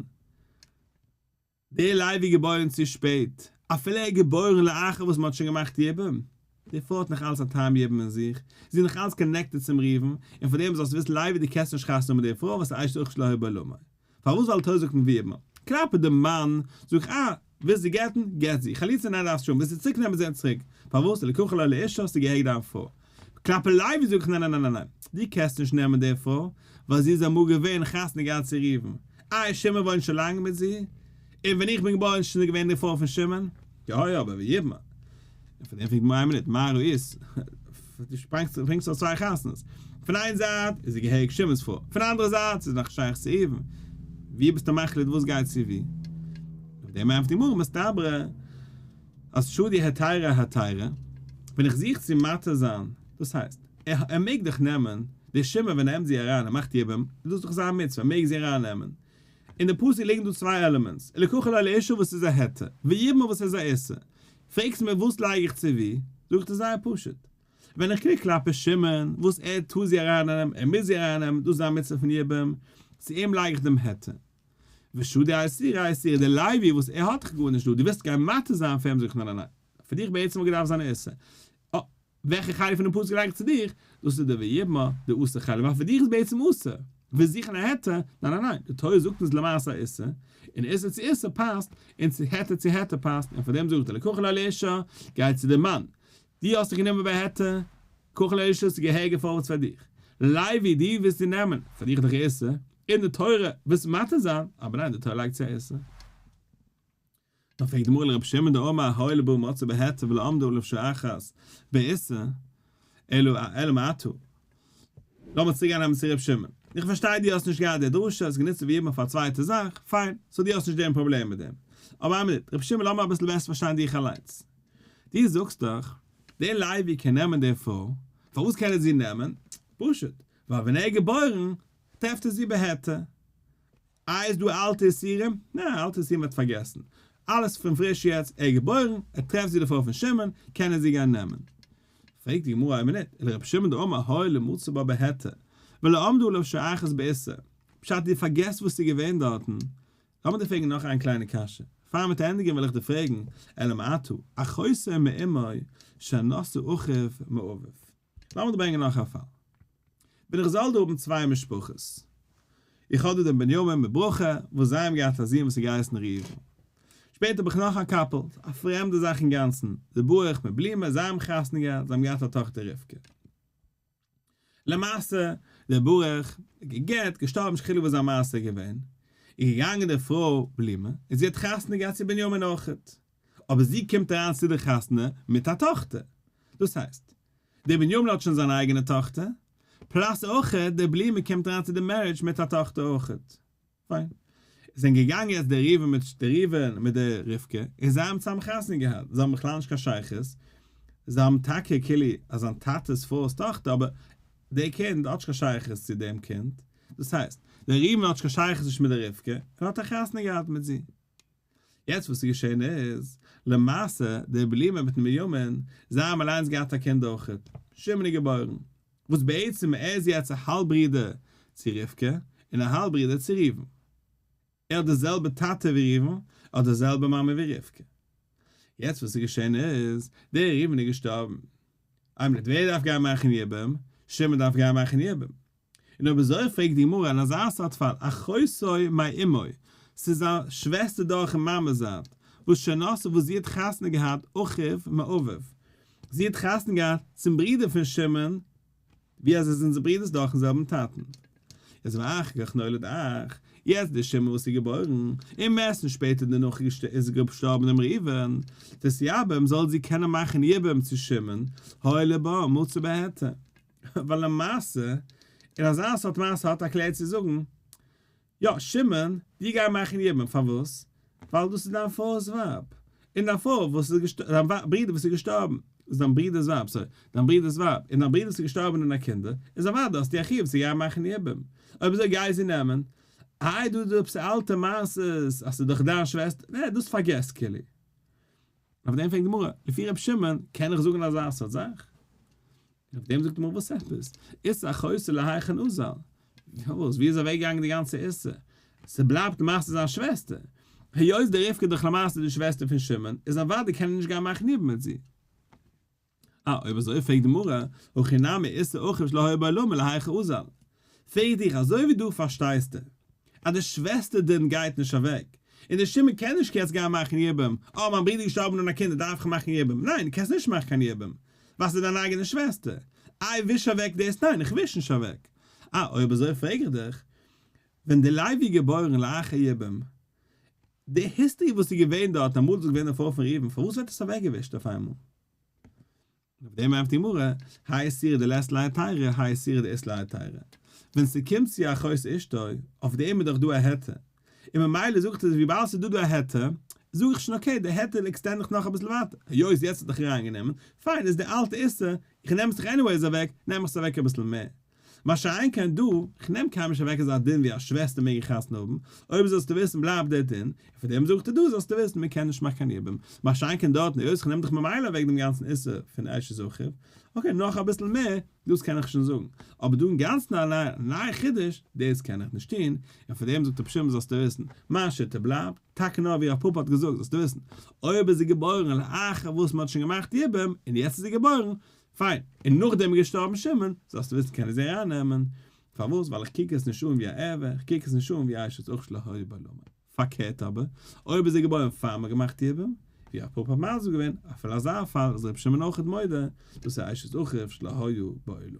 דער לייב איז געבוירן צו שפעט, אפילו ער איז געבוירן לאחר וואס מען האט שוין געמאכט יבום, די פרוי האט נאך אלץ א טעם יבום אין זיך, זי איז נאך אלץ קאנעקטעד צום ראובן, און פאר דעם זאלסטו וויסן לייבי די קענסט נישט חתונה האבן מיט דער פרוי וואס אשת אוכלת לא הי' בעולמי, פארוואס ווייל תורה זאגט אין ווי אימער, כלפי דעם מאן, זאג איך אה, ווילסט זי גט'ן? גט זי. חליצה ניין דארפסט שוין, ווילסט זי צוריק נעמען זען צוריק. פארוואס? לקחה לו לאישה האסטו גע'הרג'ט דיין פרוי. קלאפעליי ווי זאג איך ניין ניין ניין ניין ניין. דו קענסט נישט נעמען די פרוי, ווייל זי איז אמאל געווען חתן געהאט צו ראובן. אה איז שמעון וואוינט שוין לאנג מיט זי? און ווען איך בין געבוירן איז שוין זי געווען די פרוי פון שמעון? יא יא, אבער ווי יבמא. און פון דעם פרעגט מוהרא ש איין מינוט, מה ראית? דו שפרינגסט אויס צוויי חתונות. פון איין זייט איז זי געהעריג שמעונ'ס פרוי, פון די אנדערע זייט איז זי נאך שייך צו ראובן. ווי ביסטו מחליט וואס גייט צו ווי? אויף דעם ענטפערט די גמרא, מסתברא אז שודי התירא התירא, ווען איך זוך צו מתיר זיין, דאס הייסט, ער מעג דאך נעמען, די שמעון ווען ער נעמט זי אריין, ער מאכט איר ב מ, איז דאס דאך זיין מצוה, ער מעג זי ארייננעמען. אין די פסוק ליגן דא צוויי עלעמענטס, לקחה לו לאישה וואס איז א היתר, ויבמה וואס איז א איסור. פרעגסט מיר וואס לייג איך צו וואו, זאג איך דיר זייער פשוט. ווען איך קריג כלפי שמעון, וואס ער טאר זי ארייננעמען, ער מוז זי ארייננעמען, דאס איז א מצוה פון יבם, צו אים לייג איך דעם היתר. ושדי אסירי האסירי, דער לוי וואס ער האט איך גארנישט דא, דו ווילסט גיין מטה זיין פאר אים, זאג איך ניין ניין ניין, פאר דיך בעצם האט געדארפט זיין א איסור. וועלכע חלק פונעם פסוק געדאנק צו דיך? דאס איז די ויבמא, די אסור חלק, ווייל פאר דיך איז בעצם אסור, ווי זוכן א היתר, ניין ניין ניין, די תורה זאגט אונז למעשה א איסור, און איסור צו איסור פאסט, און צו היתר צו היתר פאסט, און פאר דעם זאגט ער לקחה לה לאישה, גיי צו די מאן, די האסט דיך גענומען ביי היתר, קחה לה לאישה, ס'איז געהעריג א פארווערטס פאר דיך, לייבי, די ווילסט דיר נעמען, פאר דיך איז דאך איסור, און די תורה ווילסט מתיר זיין, אבער ניין, די תורה לייגט צו א איסור. דאן פרעגט די מוהל רבי שמעון די אמר האי לבא מצא בהיתר ולא עמדו עליו שאחת בעיסה אלא א אלא מעתו לאמיר צוריק גיין נעמען צו רבי שמעון איך פארשטיי דו האסט נישט געהאט די דרשה האסט גענוצט עס ווי אימער פאר א צווייטע זאך פיין סאו דו האסט נישט דעם פראבלעם מיט דעם אבער איין מינוט רבי שמעון לאמיר אביסל בעסער פארשטיין דיך אליינס דו זאגסט דאך דער לייבי קען נעמען די פרוי פארוואס קען ער זי נעמען פשוט ווייל ווען ער איז געבוירן טרעפט ער זי בהיתר. א איז דא אלטע איסורים? נע, אלטע איסורים וועט פארגעסן. אלעס פון פריש יעצט ער איז געבוירן, ער טרעפט זי דערפאר פון שמעון, קען ער זי גיין נעמען. פרעגט די גמרא אויב ניט, אלא רבי שמעון דאמר הוי למצא בה בהיתר, ולא עמדו עליו שייכות באיסור. פשט דו פארגעסט וואס ס'איז געווען דארטן. לאמיר דיר פרעגן נאך איין קליינע קשיא. פאר מ'וועט ענדיגן וועל איך דיר פרעגן, אלא מאי טו, א חוזר מאימוי, שאין נושא אחיו מאביו. לאמיר ברענגען נאך א פאל. בין איך זאל דא האבן צוויי משפחות. איך האב דא דעם בנימין מיט ברכה, וואס זיי האבן געהאט א זון וואס האט געהייסן ראובן. שפעטער האב איך נאך א קאפל, א פרעמדע זאך אינגאנצן, די ברוך מיט בלומא, זיי האבן חתונה געהאט, זיי האבן געהאט א טאכטער רבקה. למעשה, דער ברוך האט גע'גט, געשטארבן, נישט חילוק וואס זיין מעשה איז געווען, איז געגאנגען די פרוי בלומא, און זי האט חתונה געהאט צו בנימין אויך. אבער זי קומט אריין צו די חתונה מיט א טאכטער, דאס הייסט, דער בן יובל האט שוין זיין אייגענע טאכטער, פלאס אויכעט דער בלימער קומט אריין צו די מערידזש מיט א טאכטער אויכעט. פיין. עס זענען געגאנגען יעצט דער ראובן מיט דער ראובן מיט דער רבקה, און זיי האבן צוזאמען חתונה געהאט, זיי האבן בכלל נישט קיין שייכות, זיי האבן טאקע כאילו אז זיין טאטע'ס פרוי'ס טאכטער, אבער דער קינד האט נישט קיין שייכות צו דעם קינד, דאס הייסט, דער ראובן האט נישט קיין שייכות נישט מיט דער רבקה, און האט א חתונה געהאט מיט זי. יעצט וואס איז געשען איז, למעשה, דער בלימען מיטן בנימין, זיי האבן אליינס געהאט א קינד אויך, שמעון איז געבוירן, וואס בעצם ער איז יעצט א האלב ברודער צו רבקה, און א האלב ברודער צו ראובן. ער האט די זעלבע טאטע ווי ראובן, ער האט די זעלבע מאמע ווי רבקה. יעצט וואס איז געשען איז, דער ראובן איז געשטארבן, אייב נישט ווער דארף גיין מאכן יבום? שמעון דארף גיין מאכן יבום. און אויב אזוי פרעגט די גמרא אין אזא סארט פאל, אחותו מאי אמי, ס'איז א שוועסטער דורכן מאמע'ס זייט, וואס שנאתו וואס זי האט חתונה געהאט אחיו מאביו, זי האט חתונה געהאט צום ברודער פון שמעון, ווי אז זיי זענען ברודער'ס דורכן זעלבן טאטן. יעצט ואחר כך נולד אח, יעצט דער שמעון וואס איז געבוירן, און מערסטנס שפעטער דערנאך איז געשטארבן דעם ראובן, דאס יבם זאל זי קענען מאכן יבם צו שמעון, הוילע בה מצא בעתה. ווייל למעשה אין אזא סארט מעשה האט א כלל צו זאגן, יא, שמעון, דיר גיי מאכן יבם, פארוואס? ווייל דאס איז דיין פאר'ס ווייב, און דיין פאר וואס איז געשטארבן, דיין ווייב, ברודער וואס איז געשטארבן, איז דיין ברודער'ס ווייב, סארי, דיין ברודער'ס ווייב, און דיין ברודער וואס איז געשטארבן אן א קינדער, איז אוודאי האסטו א חיוב צו גיין מאכן יבם, אויב אזוי גיי זי נעמען, איי דא איז דא עפעס אלטע מעשות אז ס'איז דאך דיין שוועסטער, נע, דאס פארגעס, כולי. אויף דעם פרעגט די גמרא, לפי ר' שמעון קען איך זאגן אזא סארט זאך? אויף דעם זאגט די גמרא וואס עפעס? איסר החוסה להיכן אוזל? וואס? ווי איז אוועק געגאנגען די גאנצע איסור? ס'בלייבט מעשה זיין שוועסטער. היות די רבקה איז דאך למעשה די שוועסטער פון שמעון, איז אוודאי קען ער נישט גיין מאכן איד מיט זי. אה, אויב אזוי פרעגט די מרא, הכי נמי איסר אוכף שלא היה בעולמו להיכא אזל. פרעג דיך, אזוי ווי דו פארשטייסטו אז די שוועסטער דין גייט נישט אוועק, און די שומער קען נישט יעצט גיין מאכן יבום, אה מיין ברודער איז געשטארבן אן א קינד דארף איך מאכן יבום, ניין דו קענסט נישט מאכן קיין יבום ווייל ס'איז דיין אייגענע שוועסטער, איי וויש אוועק דאס ניין איך וויש נישט אוועק. אה, אויב אזוי פרעג איך דיך, ווען די לייב איז געבוירן לאחר יבום, די היסטערי וואס איז געווען דארט אמאל איז געווען א פרוי פון ראובן פארוואס ווערט עס אוועקגעווישט אויף איינמאל? אויף דעם ענפערט די גמרא, האי סירא דלית ליה טיירא האי סירא דאית ליה טיירא, ווען ס'קומט צו אחות אשתו, אויף דעם איז דאך דא א היתר, און ממילא זאגט ער זיך וויבאלד ס'איז דא דא א היתר, זאג איך שוין אקעי די היתר עקסטענד איך נאך אביסל ווייטער, היות יעצט האט ער זיך אריינגענומען, פיין איז די אלטע איסור, איך נעם עס דאך עניוועיס אוועק, נעם איך עס אוועק אביסל מער, מה שאין כן דא, כ'נעם קיינמאל נישט אוועק אזא דין ווי אז שוועסטער מעגן חתונה האבן, אויב זאלסטו וויסן בלייבט דער דין, און פון דעם זאגט ער דא זאלסטו וויסן מען קען נישט מאכן קיין יבום, מה שאין כן דארט נישט, היות כ'נעם דאך ממילא אוועק דעם גאנצן איסור פון אשת זכר, אקעי נאך אביסל מער, דאס קען איך שוין זאגן, אבער דא אינגאנצן א נייע חידוש, דאס קען איך נישט טון, און פון דעם זאגט רבי שמעון זאלסטו וויסן, מיין שיטה בלייבט, טאקע נאר ווי רב פפא האט געזאגט זאלסטו וויסן, אויב איז זי געבוירן לאחר וואס מען האט שוין געמאכט יבום, און יעצט איז זי געבוירן, פיין, און נאכדעם איז געשטארבן שמעון, זאלסטו וויסן קען איך זי ארייננעמען, פארוואס? ווייל איך קוק עס נישט אן ווי א עבר, איך קוק עס נישט אן ווי אשת אח שלא היה בה לאמר. פארקערט אבער, אויב איז זי געבוירן פאר מ'האט געמאכט יבום, ווי א פאפא מזל איז געווען, אפילו אזא פאל איז רבי שמעון אויכעט מודה, דאס איז אשת אחיו שלא היה בה לאמר.